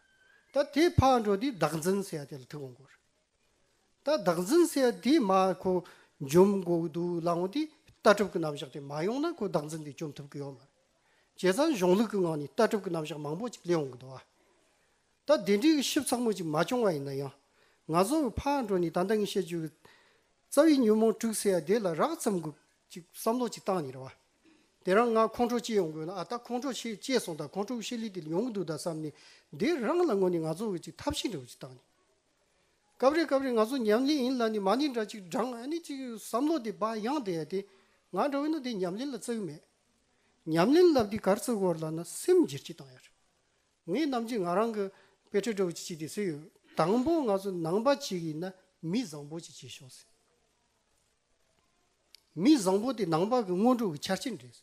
ད་དེ་ཕག་འགྲོ་དུས་བདག་འཛིན་ཟེར་ཡ་དེ་ལ་ཐུག་འོང་དགོས་རེད། ད་བདག་འཛིན་གསལ་དེ་མ་ཁོ་འཇོམས་དགོས་ཀྱི་འདུག་ལ་འོང་དུས་ལྟ་གྲུབ་ཀྱི་རྣམ་གཞག་དེ་མ་ཡོང་ན་ཁོ་བདག་འཛིན་དེ་བཅོམ་ཐུབ་ཀྱི་ཡོད་མ་རེད། བྱས་ཙང་གཞུང་ལུགས་ཀྱི་ངང་ནས་ལྟ་གྲུབ་ཀྱི་རྣམ་གཞག་མང་པོ་ཅིག་ལས་འོང་གི་འདུག་ཨ། ད་དེ་འདྲའི་དབྱེ་ཞིབ་ཚང་མ་ཅིག་མ་བྱུང་བ་ཡིན་ན་ཡང། ང་བཟོ་བོའི་ཕ་འགྲོ་ནས་ད་ལྟ་ངས་བཤད་བཅུག་གི། རྩ་བའི་ཉོན་མོངས་དྲུག་གསལ་དེ་ལ་རགས་ཙམ་གྱི་ཅིག་བསམ་བློ་ཅིག་བཏང་ནས་རེད་བ། དེ་རང་ང་ཁོང་ཁྲོ་སྐྱེས་ཡོང་གི་ཡོད་ན་ཨ་ད་ཁོང་ཁྲོ་ཤེས་སྐྱེས་སོང་ད་ཁོང་ཁྲོ་གི་ཤེས་ལས་དེ་ཡོང་གི་འདུག་ད་བསམ་ནས་དེ་རང་ལ་དངོས་ནས་ང་བཟོ་བོས་ཅིག་ཐབས་ཤེས་འདྲ་བོ་ཅིག་བཏང་ནས། སྐབས་རེ་སྐབས་རེ་ང་ཚོ་ཉམས་ལེན་ཡིན་ལ་ནི་མ་ནི་འདྲ་ཅིག་བགྲང་ཨ་ནི་ཅིག་བསམ་བློ་དེ་བག་ཡངས་དེ་དེ་ང་འདྲ་བོ་ན་དེ་ཉམས་ལེན་ལ་བརྩི་གི་མེད། ཉམས་ལེན་ལབ་དེ་གར་བརྩི་དགོས་ལ་ན་སེམས་འགྱེར་གྱིས་བཏང་ཡོད་རེད། ངས་ནམ་རྒྱུན་ང་རང་གི་དཔེ་ཁྲིད་འདྲ་བོ་ཅིག་བྱས་དེ་ཟེར་ཡོད། དང་པོ་ང་ཚོ་ནང་པ་ཅིག་ཡིན་ན་མི་བཟང་པོ་ཅིག་བྱེད་ཤོག་ཟེར། མི་བཟང་པོ་དེ་ནང་པ་གི་སྔོན་འགྲོ་གི་ཆ་རྐྱེན་རེད།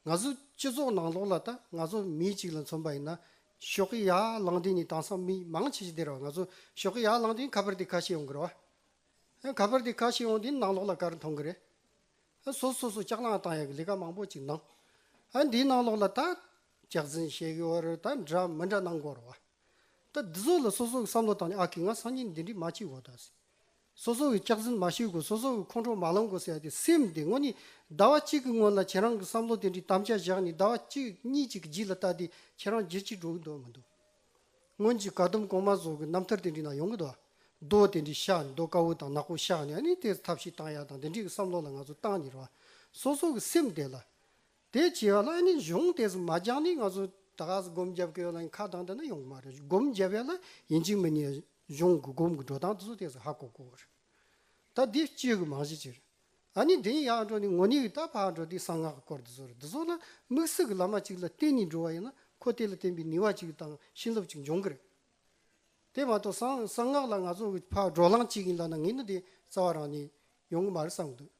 ང་ཚོ་སྤྱི་ཚོགས་ནང་ལོགས་ལ་ད་ང་ཚོ་མི་གཅིག་ལ་མཚོན་པ་ཡིན་ན་ཞོགས་ཀྱི་ཡར་ལངས་དུས་ནས་དེང་སང་མི་མང་ཆེ་ཆེ་དེར་བ་ང་ཚོ་ཞོགས་ཀྱི་ཡར་ལངས་དུས་ཁ་པར་དེ་ཁ་ཤས་ཡོང་གི་རེད་བ། ཁ་པར་དེ་ཁ་ཤས་ཡོང་དུས་ནང་ལོགས་ལ་ག་རེ་མཐོང་གི་རེད། སོ་སོ་སོ་ལྕགས་ལངས་བཏང་ཡག་གི་ལས་ཀ་མང་པོ་གཅིག་གནང། འདིའི་ནང་ལོགས་ལ་ད་ལྕགས་འཛིན་བཤད་གི་བར་ད་འདྲ་མི་འདྲ་གནང་དགོས་རེད་བ། ད་འདི་ཚོ་ལ་སོ་སོ་གི་བསམ་བློ་བཏང་ནས་ཨ་ཁི་ང་སང་ཉིན་འདི་འདྲི་མ་བྱེད་དགོས་ད་ཟེར། སོ་སོ་བའི་སྐྱག་རྫུན་མ་ཤོད་དགོས་སོ་སོ་བའི་ཁོང་ཁྲོ་མ་ལངས་དགོས་ཟེར་ཡ་དེ་སེམས་དེ་ངོ་ནི་ཟླ་བ་གཅིག་གི་སྔོན་ལ་ཁྱེད་རང་གི་བསམ་བློ་དེ་འདྲའི་དམ་བཅའ་བཞག་ནས་ཟླ་བ་གཅིག་གཉིས་གཅིག་གི་རྗེས་ལ་ལྟ་དེ་ཁྱེད་རང་བརྗེད་ཅིག་འགྲོ་གི་འདུག་མི་འདུག་སྔོན་གྱི་དགའ་དུམ་གོང་མ་བཟོ་གི་རྣམ་ཐར་དེ་འདྲའི་ནང་ཡོང་གི་འདུག་རྡོ་དེ་འདྲའི་ཤག་ནས་རྡོ་དཀར་བོ་དང་ནག་པོ་ཤག་ནས་ཨ་ནི་དེར་ཐབས་ཤིག་བཏང་ཡ་དང་དེ་འདྲའི་བསམ་བློ་ལ་ང་ཚོ་བཏང་ནི་རེད་བ་སོ་སོ་གི་སེམས་དེ་ལ་དེ་བྱས་པ་ལ་ཨ་ནི་གཞུང་དེས་མ་སྦྱངས་ནས་ང་ཚོ་ད་ག་ཟེ་སྒོམ་རྒྱབ་དགོས་ལ་ཁ་གདངས་དེ་ན་ཡོང་གི་མ་རེད་སྒོམ་རྒྱབ་ཡ་ལ་ཡིན་གཅིག་མིན་ཡ་གཞུང་གི་སྒོམ་གི་འགྲོ་སྟངས་དེ་ཚོ་དེ་ཚོ་ཧ་གོ་གོ་བ་རེད་ད་འདི་སྤྱོད་གི་མང་ཤས་ཅིག་རེད་ཨ་ནི་དེ་ཡིན་ཡག་འགྲོ་ནས་ངོ་ནི་ད་ཕ་འགྲོ་དེ་གསང་སྔགས་གི་སྐོར་དེ་ཚོ་རེད་དེ་ཚོ་ལ་དམིགས་བསལ་གི་བླ་མ་ཅིག་ལ་བསྟེན་ནས་འགྲོ་བ་ཡིན་ན་ཁོ་དེ་ལ་བསྟེན་པའི་ནུས་བ་ཅིག་དང་བྱིན་རླབས་ཅིག་འབྱུང་གི་རེད་དེ་མ་གཏོགས་གསང་སྔགས་ལ་ང་ཚོ་གི་ཕ་འགྲོ་ལངས་བྱེད་ཀྱིན་ལ་ན་ངེས་ན་དེ་རྩ་བ་རང་ནས་ཡོང་གི་མ་རེད་བསམ་གི་འདུག།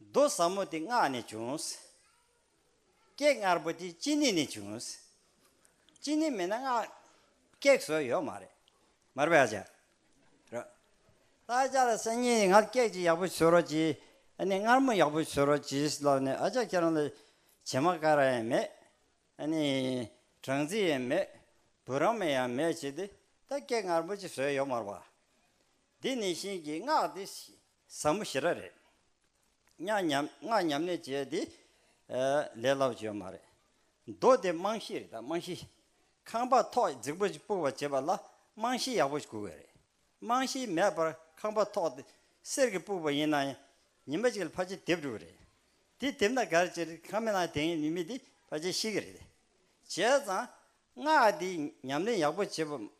མདོ་ཟབ་མོ་འདི་སྔགས་ནས་བྱུང། ཀེག་དངར་པོ་འདི་ཅི་ནི་ནས་བྱུང། ཅི་ནི་མེད་ན་སྔགས་ཀེག་བཟོ་ཡོད་མ་རེད། མར་པའི་ཨ་ཅག་རོ། ད་ཨ་ཅག་ལ་སང་ཉིན་ནས་སྔགས་ཀེག་ཅིག་ཡག་པོ་བཟོ་རོགས་གྱིས། ཨ་ནི་དངར་མོ་ཡག་པོ་བཟོ་རོགས་གྱིས་ལབ་ནས་ཨ་ཅག་ཁྱེད་རང་ལ་བྱེ་མ་ཀ་ར་ཡང་མེད། ཨ་ནི་སྦྲང་རྩི་ཡང་མེད། བུ་རམ་མེ་ཡང་མེད་བྱས་ཏེ་ད་ཀེག་དངར་པོ་ཅིག་བཟོས་ཡོད་མར་པ། འདི་ནི་བཞིན་གྱི་སྔགས་འདི། བཟང་མོ་ཞེ་ར་རེད། སྙག་ཉམས་སྔགས་ཉམས་ནས་བྱས་དེ། ལས་སླ་བོ་བྱེད་པ་མ་རེད། མདོ་སྡེ་རྨང་གཞི་རེད་ད་རྨང་གཞི། ཁང་པ་ཐོག་རྫིག་པོ་ཞིག་སྤུར་བར་བྱེད་པ་ལ་རྨང་གཞི་ཡག་པོ་ཞིག་དགོས་གི་རེད། རྨང་གཞི་མེད་པར་ཁང་པ་ཐོག་དེ་གསེར་གྱི་སྤུར་བ་ཡིན་ན་ཡང་ཉི་མ་གཅིག་ལ་ཕར་ཆེར་དེབ་འགྲོ་གི་རེད། དེ་དེབ་ན་ག་རེ་བྱེད་རེད་ཁང་མེད་ན་དེང་ནི་མི་དེ་ཕར་ཆེར་ཤི་གི་རེད། བྱས་ཙང་སྔགས་དེ་ཉམས་ལེན་ཡག་པོ་བྱེད་པ་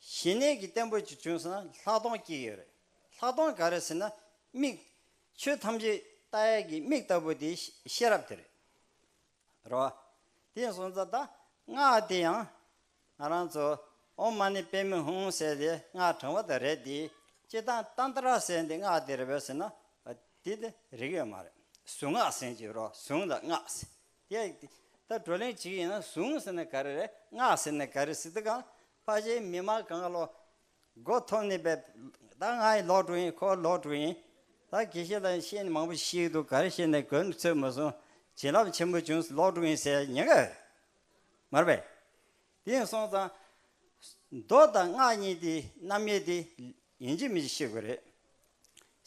གཞི་གནས་ཀྱི་བརྟན་པོ་ཅིག་བྱུང་ཟིན་ན་ལྷག་མཐོང་སྐྱེ་ཡི་རེད། ལྷག་མཐོང་ག་རེ་ཟེར་ན་མིག། ཆོས་ཐམས་ཅད་ལྟ་ཡས་ཀྱི་མིག་ལྟ་བུ་དེ་ཤེས་རབ་དེ་རེད། རེད་བ། དེ་ཡིན་སོང་ཙང་ད་སྔགས་དེ་ཡང། ང་རང་ཚོ་ཨོ་མ་ནི་པད་མི་ཧུང་ཟེར་དེ་སྔགས་དྲང་བ་དེ་རེད་དེ། སྤྱིར་བཏང་ཏན་ཏྲ་ཟེར་འདི་སྔགས་དེ་རེད་བས་ཟེར་ན། དེ་དེ་རིགས་ཡོད་མ་རེད། གཟུངས་སྔགས་ཟེར་གྱི་རོ་གཟུངས་ལ་སྔགས་ཟེར། དེ་ད་བགྲོ་གླེང་བྱེད་ཀྱི་ཡིན་ན་གཟུངས་ཟེར་ན་ག་རེ་རེད་སྔགས་ཟེར་ན་ག་རེ་ཟེར་འདི་གང་ཕ་གཞིས་མི་མ་གང་ག་ལོ། སྒོ་ཐོབ་ནི་པའི། ད་ང་ཡི་ལོག་དྲུག་ཡིན་ཁོ་ལོག་དྲུག་ཡིན། ད་གི་གཞི་ལ་ཤེས་ནི་མང་པོ་ཤིག་འདུག་གར་ཤེས་ནི་གོས་ནི་ཚོད་མི་སོང། བྱིན་རླབས་ཆེན་པོ་བྱུང་ལོག་དྲུག་ཡིན་ཟེར་ཉེ་གི། མར་པས། དེ་ཡིན་སོང་ཙང། མདོ་དང་སྔགས་གཉིས་དེ་རྣམ་དབྱེ་དེ། ཡིན་གྱི་མིན་གྱི་ཤེས་དགོས་རེད།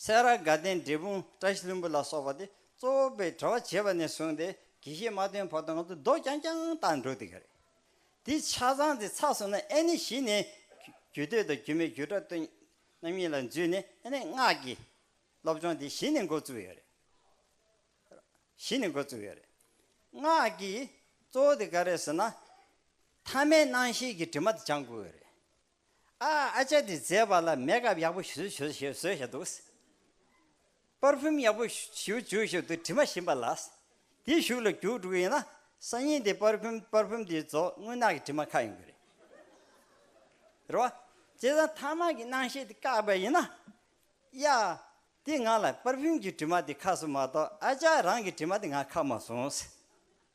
སེ་ར་དགའ་ལྡན་འབྲས་སྤུངས་བཀྲ་ཤིས་ལྷུན་པོ་ལ་སོགས་པ་དེ་གཙོ་བོ་པའི་གྲྭ་བ་བྱེད་པ་ནས་བཟུང་སྟེ་གི་གཞི་མ་ཐོན་བར་དུ་ང་ཚོ་རྡོ་རྐྱང་རྐྱང་བཏགས་འགྲོ་སྡིག་གི་རེད། འདི་ཆ་ཚང་དེ་ཚགས་སོང་ན་ཨེ་ནི་བཞི་ནི། རྒྱུད་སྟོད་དང་རྒྱུད་མའི་རྒྱུད་གྲྭ་སྟོད། རྣམ་གཉིས་ལ་འཛུད་ནི་ཨེ་ནི་སྔགས་ཀྱི། སློབ་སྦྱོང་འདི་བཞི་ནི་འགོ་བཙུགས་ཡོད་རེད། བཞི་ནི་འགོ་བཙུགས་ཡོད་རེད། སྔགས་ཀྱི་གཙོ་བོ་དེ་ག་རེད་ཟེར་ན། ཐ་མའི་སྣང་ཤེས་ཀྱི་དྲི་མ་དེ་སྦྱང་དགོས་ཡོད་རེད། ཨ་ཨ་ཅག་འདི་མཛེས་པ་ལ་མེ་ཀ་བ་ཡག་པོ་ཞུ་ཞུ་ཞུ་ཞེས་བཟོས་བཞག་འདུག། པར་ཕིམ་ཡག་པོ་ཞུ་ཞུ་ཞུ་འདུག་དྲི་མ་ཞིམ་པ་ལ། འདི་ཞུགས་ལ་རྒྱུགས་འགྲོ་གི་ཡིན་ན། སང་ཉིན་འདི་པར་ཕིམ་པར་ཕིམ་འདི་བཟོ་དངུལ་ནག་གི་དྲི་མ་ཁ་ཡོང་གི་རེད། རེད་བ། བྱས་ཙང་ཐ་མག་གི་སྣང་ཤེས་འདི་བཀག་པ་ཡིན་ན། ཡ། འདི་ང་ལ་པར་ཕིམ་གྱི་དྲི་མ་འདི་ཁ་སོང་མ་གཏོགས་ཨ་ཅག་རང་གི་དྲི་མ་འདི་ང་ཁ་མ་སོང།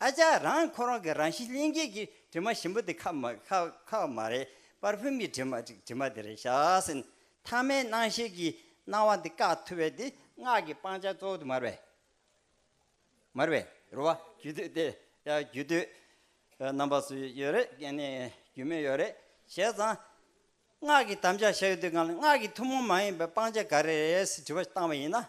ཨ་ཅག་རང་ཁོ་རང་གི་རང་བཞིན་གླིང་རྒྱས་ཀྱི་དྲི་མ་ཞིམ་པོ་དེ་ཁ་མ་ཁ་བ་མ་རེད་པར་བྷི་མའི་དྲི་མ་དྲི་མ་དེ་རེད་ཤ་ཟེར། ཐ་མའི་སྣང་ཤེས་ཀྱི་སྣང་བ་འདི་བཀག་ཐུབ་བས་དེ། སྔགས་ཀྱི་སྤང་བྱ་གཙོ་བོ་དེ་མར་བས། མར་བས་རུ་བ་རྒྱུད་དུས་ཏེ། རྒྱུད་དུས་རྣམ་པ་སུ་ཡོད་རེད་ཀྱི་ནི་རྒྱུད་མེད་ཡོད་རེད་བྱས་ཙང། སྔགས་ཀྱི་དམ་བཅའ་བྱ་ཡུལ་དེ་གང་ལ་སྔགས་ཀྱི་ཐུན་མོང་མ་ཡིན་པའི་སྤང་བྱ་ག་རེ་རེད་ཟེར་དྲི་བ་བཏང་བ་ཡིན་ན།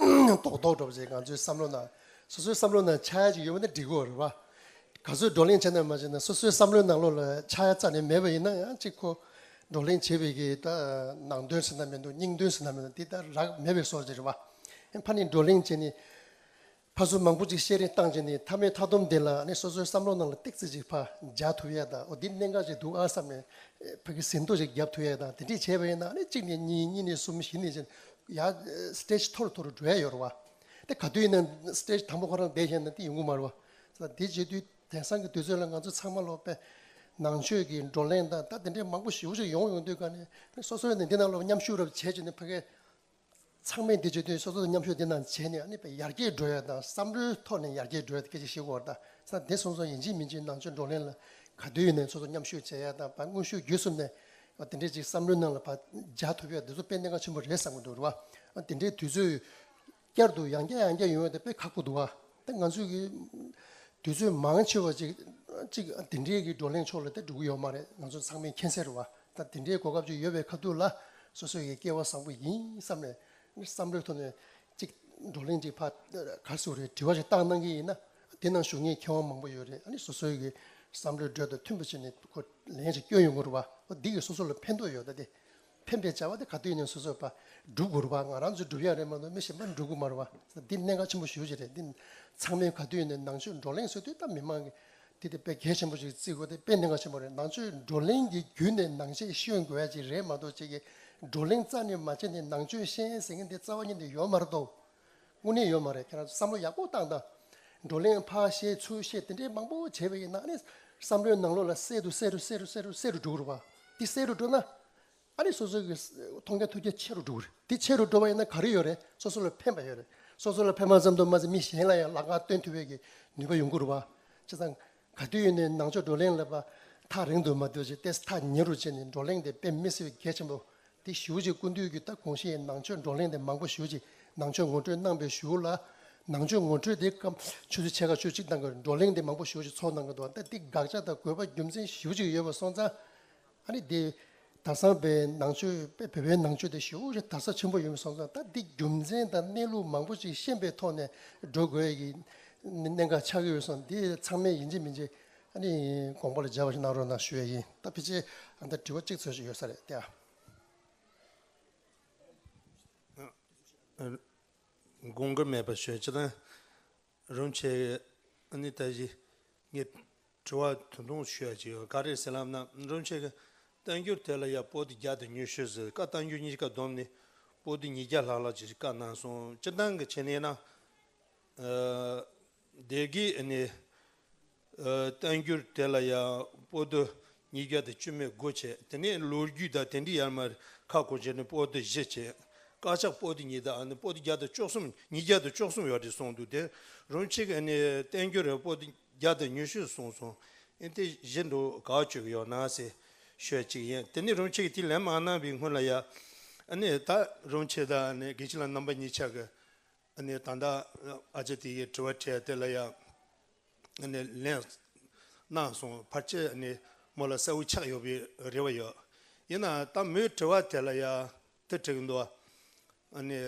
རྡོག་རྡོག་སྒྲོག་བྱེད་ང་ཚོའི་བསམ་བློ་ནང། སོ་སོའི་བསམ་བློ་ནང་ཆ་ཡ་གཅིག་ཡོད་པ་ནི་འགྲིག་གོ་རེད་བ། ག་ཚོད་བགྲོ་གླེང་བྱས་ནས་མ་བྱས་ནས་སོ་སོའི་བསམ་བློའི་ནང་ལོགས་ལ་ཆ་ཡ་རྩ་ནས་མེད་པ་ཡིན་ན་ཡང་གཅིག་གོ། བགྲོ་གླེང་བྱེད་པའི་གི་ད་ནང་དོན་ཟེར་ན་མི་འདུག་སྙིང་དོན་ཟེར་ན་མི་འདུག་དེ་ལྟར་རག་མེད་པའི་སོར་རེད་བ། ཕ་ནི་བགྲོ་གླེང་བྱེད་ནི། ཕ་གཟུགས་མང་པོ་ཅིག་བཤད་རིན་བཏང་རྗེས་ནས་མཐའ་མའི་མཐའ་སྡོམ་དེ་ལ་ནི་སོ་སོའི་བསམ་བློ་ནང་ལ་སྟེག་རྩིས་ཅིག་ཕ་རྒྱག་ཐུབ་ཡས་དང་འོ་འདི་གནད་འགག་ཅིག་འདུག་ཨ་བསམ་ནས་ཕ་གི་ཟིན་ཐོ་ཞིག་བརྒྱབ་ཐུབ་ཡས་དང་དེ་འདྲས་བྱས་པ་ཡིན་ན་ནི་གཅིག་ནས་གཉིས་གཉིས་ནས་གསུམ་བཞི་ནས་བཞི་ཡར་སྟེཇ་མཐོ་རུ་མཐོ་རུ་འགྲོ་ཡས་ཡོད་རེད་བ། དེ་ག་དུས་ཡིན་ན་སྟེཇ་དང་པོ་ཁོ་རང་བསྡད་ཤེས་ན་དེ་ཡོང་གི་མ་རེད་བ། དེ་རྗེས་དུས་དེང་སང་གི་དུས་ཚོད་ལ་ང་ཚོ་ཚང་མ་ལོག་པས་ནང་ཆོས་ཀྱི་བགྲོ་གླེང་དང་ད་དེ་འདྲས་མང་པོ་ཞིག་ཡོང་ཡོང་དུས་ག་ནས་ནི་སོ་སོས་ནི་འདི་ན་ལོག་པའི་མཉམ་ཞུགས་རབས་བྱས་རྗེས་ནི་ཕ་གས་ཚང་མས་འདི་བརྗོད་དུས་སོ་སོ་དང་མཉམ་ཞུགས་འདི་རྣམས་བྱས་ནས་ནི་ཡར་རྒྱས་འགྲོ་ཡ་དང་བསམ་བློའི་ཐོག་ནས་ཡར་རྒྱས་འགྲོ་ཡ་དེ་སྐད་ཅིག་ཤེས་དགོས་དང་ས་དེ་སོང་སོང་ཡིན་གཅིག་མིན་གཅིག་ནང་ཆོས་བགྲོ་གླེང་ལ་ག་དུས་ཡོད་ནའི་སོ་སོ་མཉམ་ཞུགས་བྱས་ཡ་དང་བ་དངོས་ཤུགས་བརྒྱུད་གསུམ་ནས་དེ་འདྲའི་ཅིག་བསམ་བློའི་ནང་ལ་བ་འཇགས་ཐུབ་ཡ་དེ་ཚོ་དཔེ་གནད་འགག་ཆེན་པོ་རེད་བསམ་གྱི་འདུག་རེད་བ། དེ་འདྲའི་དུས་ཚོད་བསྐྱར་དུ་ཡང་བསྐྱར་ཡང་བསྐྱར་ཡོང་ཡ་དེ་དཔེ་ཁག་པོ་འདུག་བ། ད་ང་ཚོས་ཀྱི་དུས་ཚོད་མང་ཆེ་བ་ཅིག་ཅིག་དེ་འདྲའི་གི་བགྲོ་གླེང་ཕྱོགས་ལ་ད་འགྲོ་གི་ཡོད་མ་རེད་ང་ཚོ་ཚང་མའི་མཁྱེན་གསལ་རེད་བ། ད་དེ་འདྲའི་གོ་སྐབས་ཅིག་ཡོད་པའི་ཁ་ཐུག་ལ་སོ་སོའི་ཀྱི་སྐལ་བ་བཟང་པོ་ཡིན་བསམ་ནས་བསམ་བློའི་ཐོག་ནས་ཅིག་བགྲོ་གླེང་ཅིག་ཕ་ག་སུ་རེད་དྲི་བ་ཞིག་བཏང་གནང་གི་ཡིན་ན་དེ་ནང་ཞུགས་མཁན་མཁས་དབང་མང་པོ་ཡོད་རེད་ཨ་ནི་སོ་སོའི་ཀྱི་བསམ་བློའི་འགྲོས་དང་མཐུན་པ་ཞིག་ནས་ལན་ཞིག་བསྐྱོན་ཡོང་དགོས་རེད་བ། འོ་འདི་གི་སོ་སོ་ལ་ཕན་ཐོགས་ཡོད་ད་དེ། འཕེན་པའི་བྱ་བ་འདི་ག་དུས་ནས་སོ་སོས་པ་སྒྲུབ་དགོས་རུང་བ་ང་རང་ཚོས་སྒྲུབ་ཡག་རེད་མ་གཏོགས་མི་གཞན་པ་འགྲུབ་དགོས་མ་རུང་བ་འདི་གནད་འགག་ཆེན་པོ་ཞུ་བྱེད་རེད་འདི་ཚང་མས་ག་དུས་ནས་ནང་ཆོས་བགྲོ་གླེང་སྲོལ་དུས་ད་མི་མང་གིས་འདི་དཔེ་གལ་ཆེན་པོ་ཞིག་བརྩི་དགོས་དེ་དཔེ་གནད་འགག་ཆེན་པོ་རེད་ནང་ཆོས་བགྲོ་གླེང་གི་བརྒྱུད་ནས་ནང་ཆས་ཤོད་དགོས་ཡ་ཅིག་རེད་མ་གཏོགས་ཁྱེད་ཀྱིས་བགྲོ་གླེང་རྩ་ནས་མ་བྱས་ནས་ནང་ཆོས་ཤེས་ཟེར་མཁན་དེ་རྩ་བ་ཉིད་ནས་ཡོད་མ་རེད་དོ། དངོས་གནས་ཡོད་མ་རེད་ཁྱེད་རང་ཚོ་བསམ་བློ་ཡག་པོ་བཏང་དང། བགྲོ་གླེང་ཕར་བཤད་ཚུར་བཤད་དེ་འདྲའི་མང་པོ་བྱས་པའི་ནང་ནས་བསམ་བློའི་ནང་ལོགས་ལ་གསལ་དུ་གསལ་རུ་གསལ་རུ་གསལ་རུ་གསལ་རུ་འགྲོ་དགོས་རེད་པ། འདི་གསལ་རུ་འགྲོ་ན། ཨ་རིས་སོ་སོའི་མཐོང་རྒྱ་ཐོས་རྒྱ་ཆེ་རུ་འགྲོ་གི་རེད། འདི་ཆེ་རུ་འགྲོ་བ་ཡིན་ན་ག་རེ་ཡོད་རེད་སོ་སོ་ལ་ཕན་པ་ཡོད་རེད། སོ་སོ་ལ་ཕན་པ་ཙམ་དུ་མ་ཟད་མི་གཞན་ལ་ཡང་ལག་ལྔ་སྟོན་ཐུབ་པའི་ནུས་པ་ཡོང་དགོས་རུ་བ། བྱས་ཙང། ག་དུས་ཡོད་ནས་ནང་ཆོས་བགྲོ་གླེང་ལབ་པ་ཐག་རིང་དུ་མ་བསྡོད་ཅེས་ལྟས་ཐག་ཉེ་རུ་བྱས་ནས་བགྲོ་གླེང་དེ་སྤེལ་མི་སྲིད་པའི་གལ་ཆེན་པོ་དེ་ཞུ་རྗེས་ཀུན་འདུས་ཀྱིས་ད་གོང་གཞི་ཡི་ནང་ཆོས་བགྲོ་གླེང་དེ་མང་པོ་ཞུ་རྗེས་ནང་ཆོས་ངོ་སྤྲོད་གནང་པའི་ཞུ་ལ། ནང་ཆོས་ངོ་སྤྲོད་དེའི་སྐབས་ཆོས་ཚུལ་ཕྱེད་ཀ་ཆོས་གཅིག་གཏང་དགོས་བགྲོ་གླེང་དེ་མང་པོ་ཞུ་རྗེས་ཚོགས་གནང་གི་འདུག་ད་ལྟའི་དགག་བྱ་དང་དགོས་པ་རྒྱུ་མཚན་ཞིབ་ཅིག་ཡོད་པ་སོང་ཙང། ཨ་རི་དེ་དར་སང་པའི་ནང་ཆོས་པའི་བོད་པའི་ནང་ཆོས་དེ་ཞོའུ་རེ་དར་ས་ཆེན་པོ་ཡོད་མི་སོང་ཙང་ད་འདི་རྒྱུ་མཚན་དང་གནས་ལུགས་མང་པོ་ཅིག་ཤེས་པའི་ཐོག་ནས་འགྲོ་དགོས་ཀྱི་གནད་འགག་ཆགས་ཀྱི་ཡོད་སོང་དེ་ཚང་མས་ཡིན་གཅིག་མིན་གཅིག་ཨ་རི་དགོངས་པ་ལ་མཇལ་བ་ཞིག་གནང་རོགས་གནང་ཞུ་ཡས་ཡིན་ད་ཕི་ཕྱི་ཨ་མདའ་དྲི་བ་གཅིག་འཚོལ་བཞིན་ཡོད་ས་རེད་ཏེ་ཨ། དགོངས་ཀྱི་མེད་པ་ཞོན་ཅི་ན། རུང་བྱས། ཨ་ནི་ད་གཞི་ངས་དྲི་བ་ད་དུང་ཞུ་ཡ་ཅིག་ཡོད་ཀ་རེད་ཟེར་ལབ་ན་རུང་བྱས། གཏན་འཁྱོར་དེ་ལ་ཡ་པོ་ཏི་བརྒྱ་དང་ཉུ་ཤུ་ཟེར་ཀ་གཏན་འཁྱོར་གཉིས་ཀ་བསྡོམས་ནས་པོ་ཏི་ཉིས་བརྒྱ་ལྷག་ལ་ཅིག་བཀའ་གནང་སོང་སྤྱི་འདང་གི་ཆེད་ནས་ན། ཨ། བདེ་དགེའི་ཨ་ནི། བསྟན་འགྱུར་དེ་ལ་ཡང་པོ་ཏོ་ཉིས་བརྒྱ་དང་བཅུ་མའི་སྒོ་འབྱེད་དེ་ནས་ལོ་རྒྱུས་དང་དེ་འདྲའི་ཡར་མར་ཁག་སྒོ་འབྱེད་ནི་པོ་ཏོ་བཞི་བྱས། དཀར་ཆག་པོ་ཏོ་གཉིས་དང་པོ་ཏོ་བརྒྱ་དང་བཅུ་གསུམ་ཉིས་བརྒྱ་དང་བཅུ་གསུམ་ཡོད་དེ་གསུངས་འདུག་དེ་རུང་ཕྱི་ག་ནས་བསྟན་འགྱུར་རེར་པོ་ཏོ་བརྒྱ་དང་ཉུ་ཤུ་གསུངས་སོང། ཨེ་དེ་བཞི་འགྲོ་ག་བཅུ་ཡོད་ན་སེ་ཤོད་ཅིག་ཡིན་དེ་ནས་རུང་ཕྱི་གི་དེ་ལན་མང་གནང་བའི་སྔོན་ལ་ཡང། ཨ་ནི་ད་རུང་ཕྱི་དང་གི་ཕྱི་ལ་རྣམ་པ་གཉིས་ཆགས། ཨ་ནེ་ད་ལྟ་ཨ་ཅེ་དེ་ཡིས་དྲི་བ་དྲས་དེ་ལ་ཡང་ཨ་ནེ་ལན་གནང་སོང་ཕར་ཆེར་ཨ་ནེ་མོ་ལ་སེའུ་ཆགས་ཡོད་པའི་རེ་བ་ཡོད་ཡིན་ནའང་ད་མོའི་དྲི་བ་དེ་ལ་ཡང་དེ་དྲི་གི་འདུག་ཨ་ནེ།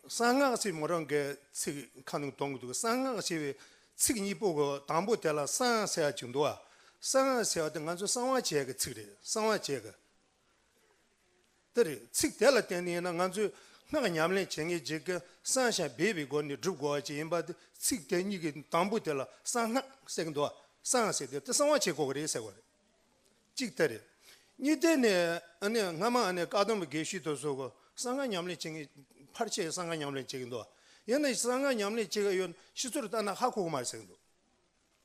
གསང་སྔགས་ཞེས་མོ་རང་གི་ཚིག་ཁ་ནང་གཏོང་གི་འདུག་གསང་སྔགས་ཞེས་པའི་ཚིག་གཉིས་པོ་གི་དང་པོ་དེ་ལ་གསང་ཟེར་བ་ཅིག་འདུག་གསང་ཟེར་བ་དེ་ང་ཚོས་གསང་བ་བྱས་ཀྱི་ཚིག་རེད་གསང་བ་བྱས་ཀྱི། དེ་རེད། ཚིག་དེ་ལ་བརྟེན་ནས་ཡིན་ན་ང་ཚོས་སྔགས་ཉམས་ལེན་བྱེད་མཁན་གྱིས་ཀྱང་གསང་ཞིང་སྦས་པའི་སྒོ་ནས་སྒྲུབ་དགོས་པ་ཅིག་ཡིན་པ་དེ་ཚིག་དེ་གཉིས་ཀྱི་དང་པོ་དེ་ལ་གསང་སྔགས་ཟེར་གྱི་འདུག་བ། གསང་ཟེར་དུས་དེ་གསང་བ་བྱེད་དགོས་ཀྱི་རེད་ཟེར་བ་རེད། གཅིག་དེ་རེད། གཉིས་དེ་ནི་སྔ་མ་ནི་བཀའ་སྡོམ་པ་དགེ་བཤེས་དུ་གསོལ་གསང་སྔགས་ཉམས་ལེན་བྱེད་མཁན་ཕར་ཆེར་གསང་སྔགས་ཉམས་ལེན་བྱེད་ཀྱི་འདུག་བ། ཡིན་ན་གསང་སྔགས་ཉམས་ལེན་བྱེད་མཁན་ཡོད་ན་ཕྱི་ཚུལ་ལྟར་ན་ཧ་གོ་གི་མ་རེད་ཟེར་གྱི་འདུག།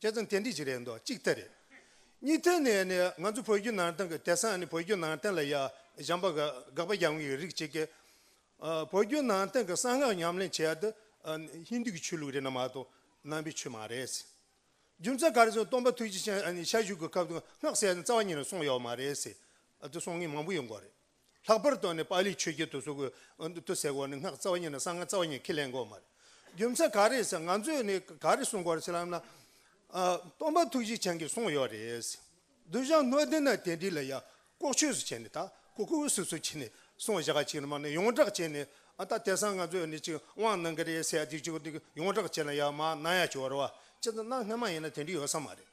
ཁྱེད་ཚོ་འཐེན་འཁྲིད་ཅིག་རེད་འདུག་གཅིག་ཐེ་རེད། གཉིས་ཐེ་ནི་ནི་ང་ཚོ་བོད་བརྒྱུད་ནང་བསྟན་གྱི་དད་སངས་ནི་བོད་བརྒྱུད་ནང་བསྟན་ལ་ཡ་བཞམས་པ་དགག་པ་རྒྱག་མཁན་གྱི་རིགས་གཅིག་གིས། བོད་བརྒྱུད་ནང་བསྟན་གྱི་གསང་སྔགས་ཉམས་ལེན་བྱེད་ཡ་དེ་ཧིན་དུ་གྱི་ཆོས་ལུགས་རེད་ན་མ་གཏོགས་ནང་པའི་ཆོས་མ་རེད། རྒྱུ་མཚན་ག་རེ་ཟེར་ན་སྟོང་པ་ཐུགས་རྗེ་ཅན་ཞལ་བཞུགས་ཀྱི་སྐབས་དུ་སྔགས་གསལ་ནི་རྩ་བ་ཉིད་ནས་གསུངས་ཡོད་མ་རེད། དེ་གསུང་མཁན་མང་པོ་ཡོད་འགོ་རེད། ལྷག་པར་དུ་ནི་པཱ་ལིའི་ཆོས་བརྒྱུད་དུ་གཟུགས་སྐུ་འོད་དུ་གསལ་བ་ནི་སྔགས་རྩ་བ་ཉིད་ནི་གསང་སྔགས་རྩ་བ་ཉིད་ཁས་ལེན་དགོས་མ་རེད། རྒྱུ་མཚན་ག་རེ་ཟེར་ང་ཚོས་ནི་ག་རེ་གསུང་དགོས་རེད་ལབ་ན། སྟོན་པ་ཐུགས་རྗེ་ཅན་གྱིས་གསུངས་ཡོད་རེད། བསྡུ་བཞག་སྣོད་ལྡན་ན་དེ་འདྲི་ལ་ཡ། ལྐོག་ཆོས་སུ་བྱས་ནས་ད་ཀོ་ཀོ་བོ་སུ་སུ་བྱས་ནས་གསུང་བཞག་གཅིག་ལ་མ་ནི་ཡོངས་བསྒྲགས་བྱས་ནས་ཨ་ད་དེ་སང་ང་ཚོས་ནི་ཅིག་དབང་གནང་གི་རེད་ཟེར་ཡ་དེ་ཅིག་ཡོངས་བསྒྲགས་བྱས་ན་ཡ་མ་གནང་ཡ་ཅིག་བར་བ་ཅི་ད་གནང་སྔ་མ་ཡིན་ན་དེ་འདྲི་ཡོད་ས་མ་རེད།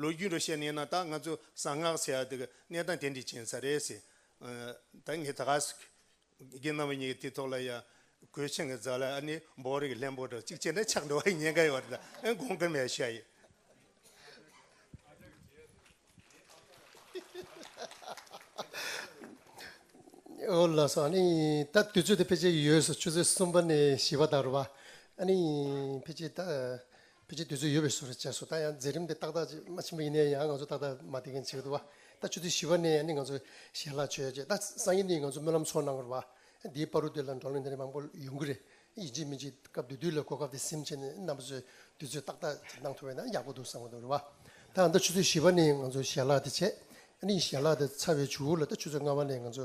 ལོ་རྒྱུས་འགྲོ་བཤད་ནས་ན་ད་ང་ཚོ་གསང་སྔགས་ཚེ་ཡག་འདི་གི་གནས་སྟངས་དེ་འདྲས་ཅན་ས་རེད་ཟེར། ད་ངས་ད་ག་ཟེར། ཁྱེད་རྣམ་པ་གཉིས་ཀྱི་དེ་ཐོག་ལ་ཡང་གོས་ཆེན་གྱི་རྫ་ལ་ཨ་ནེ་འབོག་རེ་གི་ལྷན་པོ་དང་གཅིག་བྱས་ན་ཆགས་འགྲོ་བ་ཡི་ཉེན་ཁ་ཡོད་རེད་ད་ཨེ་དགོངས་ཀི་མེད་ཤ་ཡི། ཨོ་ལགས་སོ་ཨ་ནི་ད་དུས་ཚོད་དེ་ཕལ་ཆེར་ཡོལ་སོ་ཆུ་ཚོད་གསུམ་པ་ནས་བཞི་པ་དང་རུ་བ་ཨ་ནི་ཕལ་ཆེར་ད། ཕལ་ཆེར་དུས་ཚོད་ཡོལ་བའི་སུ་རེད་བྱས་སོ་ད་ཡང་མཛད་རིམ་དེ་ཏག་ཏག་ཅིག་མ་ཕྱིན་པ་ཡིན་ནའི་ཡང་ང་ཚོ་ཏག་ཏག་མ་དེ་མཁན་བྱེད་དགོས་དགོས་པ་ད་ཆུ་ཚོད་བཞི་བ་ནས་ཡང་ནི་ང་ཚོ་ཞལ་ལག་མཆོད་བྱེད་ད་སང་ཉིན་ནི་ང་ཚོ་སྨོན་ལམ་ཚོགས་གནང་དགོས་རེད་བ་འདིའི་དཔའ་རུ་དེ་ལ་འགྲོ་གླེང་དེ་རིང་མང་པོ་ཡོང་གི་རེད་ཡིན་གཅིག་མིན་གཅིག་སྐབས་དུས་དུས་ལ་གོ་སྐབས་དེ་སིམ་བྱས་ནས་རྣམ་པ་ཚོས་དུས་ཚོད་ཏག་ཏག་ཅིག་གནང་ཐུབ་པ་ཡིན་ན་ཡག་པོ་འདུག་བསམ་གྱི་འདུག་རེད་བ་ད་ཡང་ད་ཆུ་ཚོད་བཞི་བ་ནས་ང་ཚོ་ཞལ་ལག་དེ་བྱེད་ཡང་ནི་ཞལ་ལག་དེ་ཚར་བའི་ཆུ་བོ་ལ་ད་ཆུ་ཚོད་ལྔ་བ་ནས་ང་ཚོ